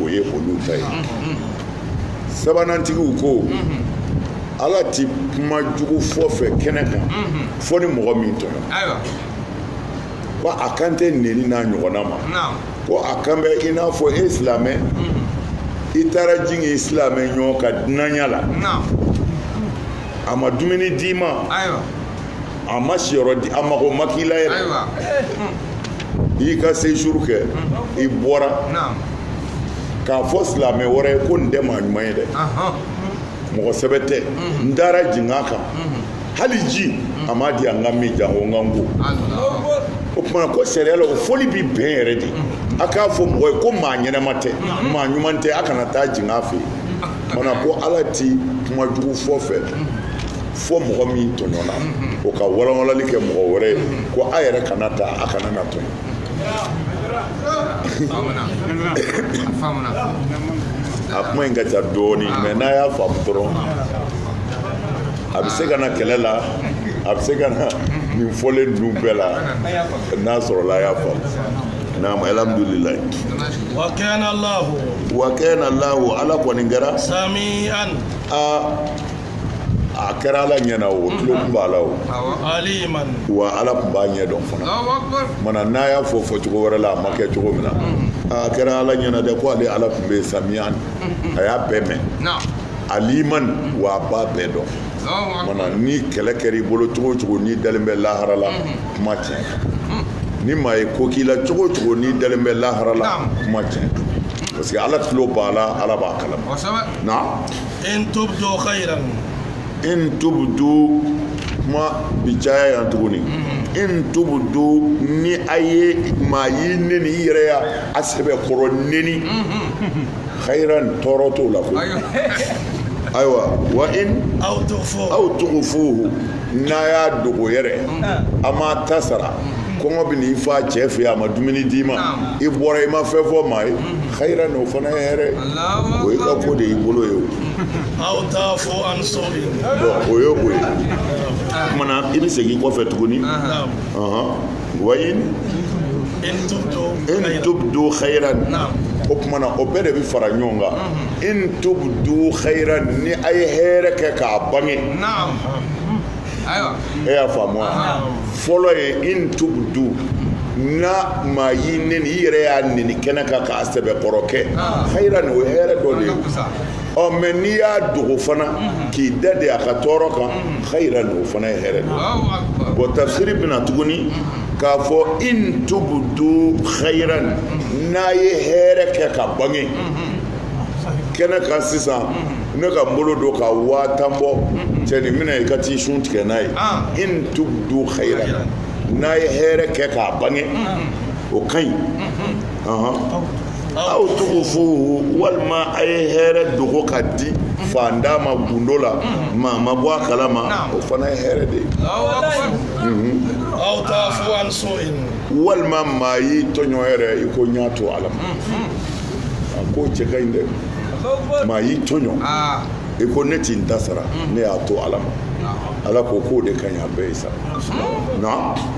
o ye olu ta ye sabanantigiw ko ala ti kuma jugu fɔ fɛ kɛnɛ kan fo ni mɔgɔ min tɔɲɔna ko a kan tɛ neni n'a ɲɔgɔnna ma ko a kan bɛ i n'a fɔ e silamɛ i taara jigin i silamɛ ɲɔgɔn ka dunanya la a ma dumuni d'i ma a ma siyɔrɔ di a mago ma k'i la yɛrɛ ayiwa i y'i ka séjour kɛ i bɔra naam k'a fɔ silamɛ wɛrɛ ye ko nin tɛ maa ɲuman ye dɛ ahan mɔgɔ sɛbɛ tɛ n taara jigin a kan hali ji a m'a di an k'a min janko n ka n ko allah o tumana ko sariya la o fɔli bi bɛn yɛrɛ de a k'a fɔ mɔgɔ ye ko maa ɲɛnama tɛ maa ɲuman tɛ a kana taa jigin a fɛ yen mana ko ala ti kuma jugu fɔ fɛ fo mɔgɔ min tɔɲɔna o ka walanwalali kɛ mɔgɔ wɛrɛ ye ko a yɛrɛ kana taa a kana na tɔɲɔ a kuma in ka ca dɔɔni mais n'a y'a faamu dɔrɔn a bɛ se ka na kɛlɛ la a bɛ se ka na nin fɔlen ninnu bɛɛ la n'a sɔrɔla a y'a faamu naam alhamdulilayi wa kana lahu ala kɔni kɛra sami'an a a kɛra ala ɲɛna o tulo tun b'a la o wa ala tun b'a ɲɛ dɔn fana mana n'a y'a fɔ fɔcogo wɛrɛ la a ma kɛ cogo min na a kɛra ala ɲɛna dɛ ko ale ala tun bɛ sami'an a y'a bɛɛ mɛn alimani wa a b'a bɛɛ dɔn mana ni kɛlɛ kɛra i bolo cogo o cogo n'i dalen bɛ lahara la kuma tiɲɛ ni maa ye ko k'i la cogo o cogo n'i dalen bɛ lahara la kuma tiɲɛ parce que ala tulo b'a la ala b'a kalama na in tubdu khairan in tubdu kuma bi caya yan tuguni mm-hmm. in tubdu ni a ye maa y'i neni i yɛrɛ y'a sɛbɛ kɔrɔ neni mm-hmm. khairan tɔɔrɔ t'o la koyi ayiwa wa in aw tugufuhu n'a y'a dogo yɛrɛ a m'a ta sara kɔngɔ bɛ n'i fa cɛ fɛ yen a ma dumuni d'i ma i bɔra i ma fɛn fɔ maa ye khairan o fana ye hɛrɛ o ye ka ko de y'i bolo ye o aw ta'fu an su'in bon o ye o ye kumana i bɛ segin kɔfɛ tuguni wa in tubdu khairan o kumana o bɛɛ de bɛ fara ɲɔgɔn kan in tubdu khairan ni a ye hɛrɛ kɛ k'a bange e y'a faamu wa fɔlɔ ye in tubdu na maa y'i neni i yɛrɛ y'a neni kɛnɛ kan k'a sɛbɛ kɔrɔ kɛ khairan o ye hɛrɛ dɔ de ye ɔ mais n'i y'a dogo fana k'i dade a ka tɔɔrɔ kan khairan o fana ye hɛrɛ de ye bon tafsiri bɛna tuguni k'a fɔ in tubdu khairan n'a ye hɛrɛ kɛ k'a bange kɛnɛ kan sisan ne ka n bolo don ka waa tan bɔ cɛ nin minɛ i ka t'i sun tigɛ n'a ye in tubdu khairan n'a ye hɛrɛ kɛ k'a bange o ka ɲi aw tugufuhu walima a ye hɛrɛ dogo k'a di faantan ma gundo la maa ma bɔ a kalama o fana ye hɛrɛ de ye walima maa y'i tɔɲɔ yɛrɛ i ko n y'a to ala ma a k'o cɛ ka ɲi dɛ maa y'i tɔɲɔ i ko ne ti n ta sara ne y'a to ala ma ala ko k'o de ka ɲi a bɛɛ ye sa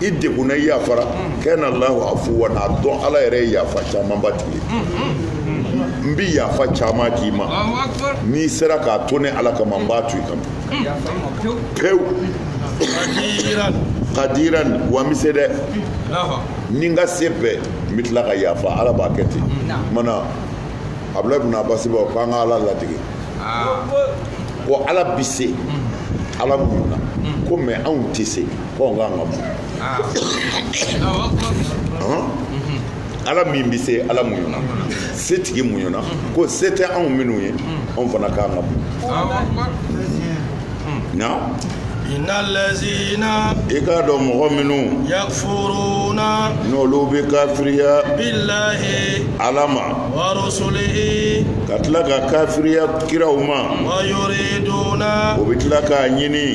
i degunna i yafara kana allahu afuwan a dɔn ala yɛrɛ ye yafa camanba tigi ye n bi yafa caman k'i ma n'i sera k'a to ne ala kama n b'a to i kama pewu kadiran wa n bi se dɛ ni n ka se bɛɛ n bɛ tila ka yafa ala b'a kɛ ten mana abudulayi bin abasi b'a fɔ k'an ka ala ladege ko ala bi se ala muɲuna ko mais anw tɛ se fɔ nka nka ala min bɛ se ala muɲuna setigi muɲuna ko se tɛ anw minnu ye anw fana ka kan ka muɲu naam innal lazina i k'a dɔn mɔgɔ minnu yakfuruna n'olu bɛ kafiriya billahi ala ma wa rusulihi ka tila ka kafiriya kiraw ma wa yuriduna u bɛ tila k'a ɲini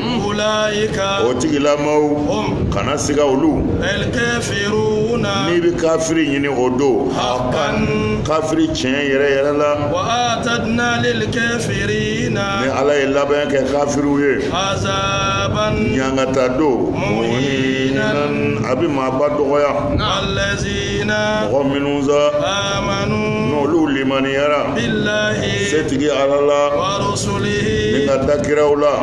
o tigilamɔgɔw kana siga olu n'i bɛ kafiri ɲini o don kafiri tiɲɛ yɛrɛ yɛrɛ la ni ala ye labɛn kɛ kafiriw ye ɲangata don a bɛ maaba dɔgɔya mɔgɔ minnu sa n'olu limaniyara setigi ala la ni ka da kiraw la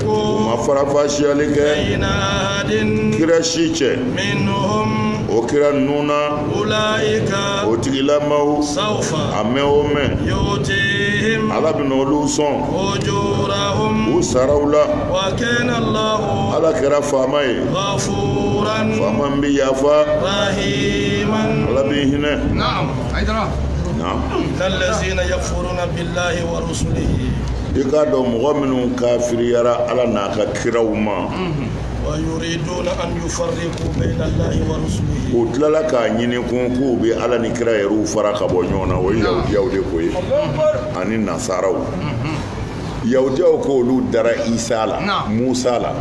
u ma farafasiyali kɛ kira si cɛ o kira ninnu na o tigilamaw a mɛn o mɛn ala bɛna olu sɔn u saraw la ala kɛra faama ye faama min bɛ yafa ala b'i hinɛ. lahi wa rusulihi i k'a dɔn mɔgɔ minnu kafiriyara ala n'a ka kiraw ma wa yuriduna an yufarriqu bayna allahi wa rusulihi u tilala k'a ɲini kun k'u bɛ ala ni kira yɛrɛw fara ka bɔ ɲɔgɔn na o ye yahudiyaw de ko ye ani nasaraw yahudiyaw ko olu dara isa la Naam. musa la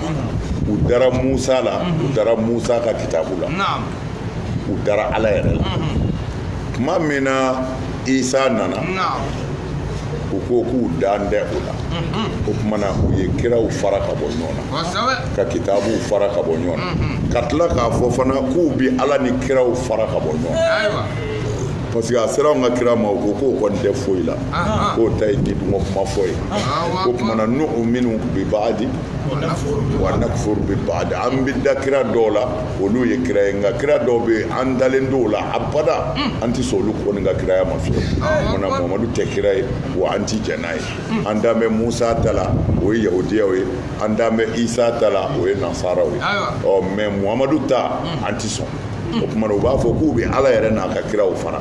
u dara musa la u dara musa ka kitabu la naam u dara ala yɛrɛ la tuma min na isa nana u ko k'u dalen tɛ o la o tuma na u ye kiraw fara ka bɔ ɲɔgɔn na ka kitabuw fara ka bɔ ɲɔgɔn na ka tila k'a fɔ fana k'u bɛ ala ni kiraw fara ka bɔ ɲɔgɔn na parce que a sera anw ka kira ma u ko k'o kɔni tɛ foyi la k'o ta ye nidungɔ kuma fɔ ye o tuma na n'o minnu bɛ baga di wa nakfuru bi ba'd an bɛ da kira dɔw la olu ye kira ye nka kira dɔw bɛ yen an dalen t'o la abada an tɛ sɔn olu kɔni ka kiraya ma fiyewu o kumana muhamadu tɛ kira ye wa an tɛ jɛn n'a ye an dan bɛ musa ta la o ye yahudiyaw ye an dan bɛ isa ta la o ye nasaraw ye ɔ mɛ muhamadu ta an tɛ sɔn o kumana u b'a fɔ k'u bɛ ala yɛrɛ n'a ka kiraw fara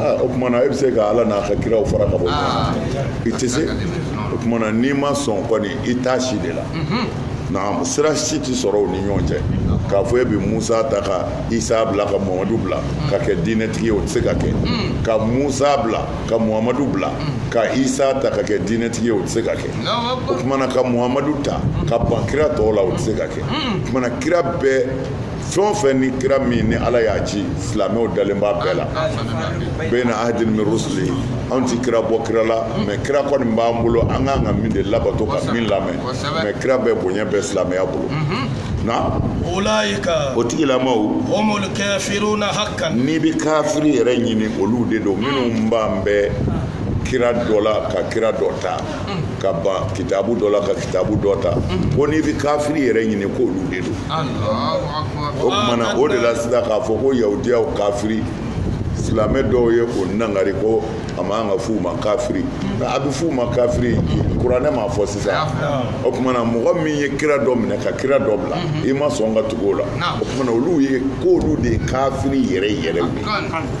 ah, o tumana e bɛ se ka ala n'a ka kiraw fara ka bɔ ah. i tɛ se o tumana n'i ma sɔn kɔni i t'a si de la mhm. naam sira si tɛ sɔrɔ u ni ɲɔgɔn cɛ k'a fɔ e bɛ musa ta ka isa bila ka muhamadu bila mm. ka kɛ diinɛtigi ye o tɛ se ka kɛ mm. ka musa bila ka muhamadu bila mm. ka isa ta ka kɛ diinɛtigi ye o tɛ se ka kɛ o tumana ka muhamadu ta ka ban kira tɔw la o tɛ se ka kɛ o tumana kira bɛɛ fɛn o fɛn ni kira min ni ala y'a ci silamɛw dalen b'a bɛɛ la bayna ahadin min rusuli anw ti kira bɔ kira la mɛ kira kɔni b'an bolo an kan ka min de labato ka min lamɛn mɛ kira bɛɛ bonya bɛ silamɛya bolo na ulaika o tigilamaw humul kafiruna haqqan n'i bɛ kafiri yɛrɛ ɲini olu de don minnu bannen bɛ kira dɔ la ka kira dɔ ta ka ban kitabu dɔ la ka kitabu dɔ ta ko n'i bɛ kafiri yɛrɛ ɲini ko olu de don o kumana o de la sisan k'a fɔ ko yahudiyaw kafiri silamɛ dɔw ye o nangari ko a man ka f'u ma kafiri a bɛ f'u ma kafiri kuranɛ m'a fɔ sisan o kumana mɔgɔ min ye kira dɔ minɛ ka kira dɔ bila i ma sɔn ka tugu o la o kumana olu ye k'olu de ye kafiri yɛrɛ yɛrɛ ye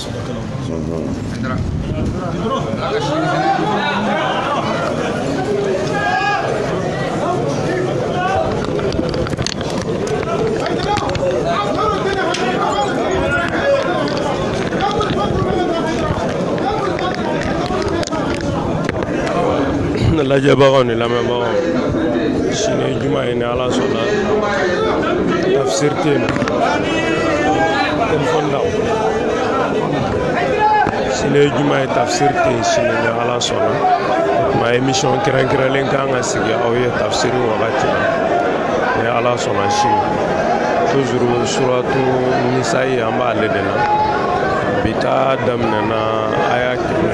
Ne lajɛbagaw ni lamɛnbagaw sini juma ye ni ala sɔnna tafsiri tɛ yen dem fa ndaw sini juma ye tafsir tɛ sini ni ala sɔnna mɛ émission kɛrɛnkɛrɛnlen kan ka sigi aw ye tafsiri wagati la ni ala sɔnna sini toujours suratu nisayi an b'ale de la bi ta daminɛna aya kɛmɛ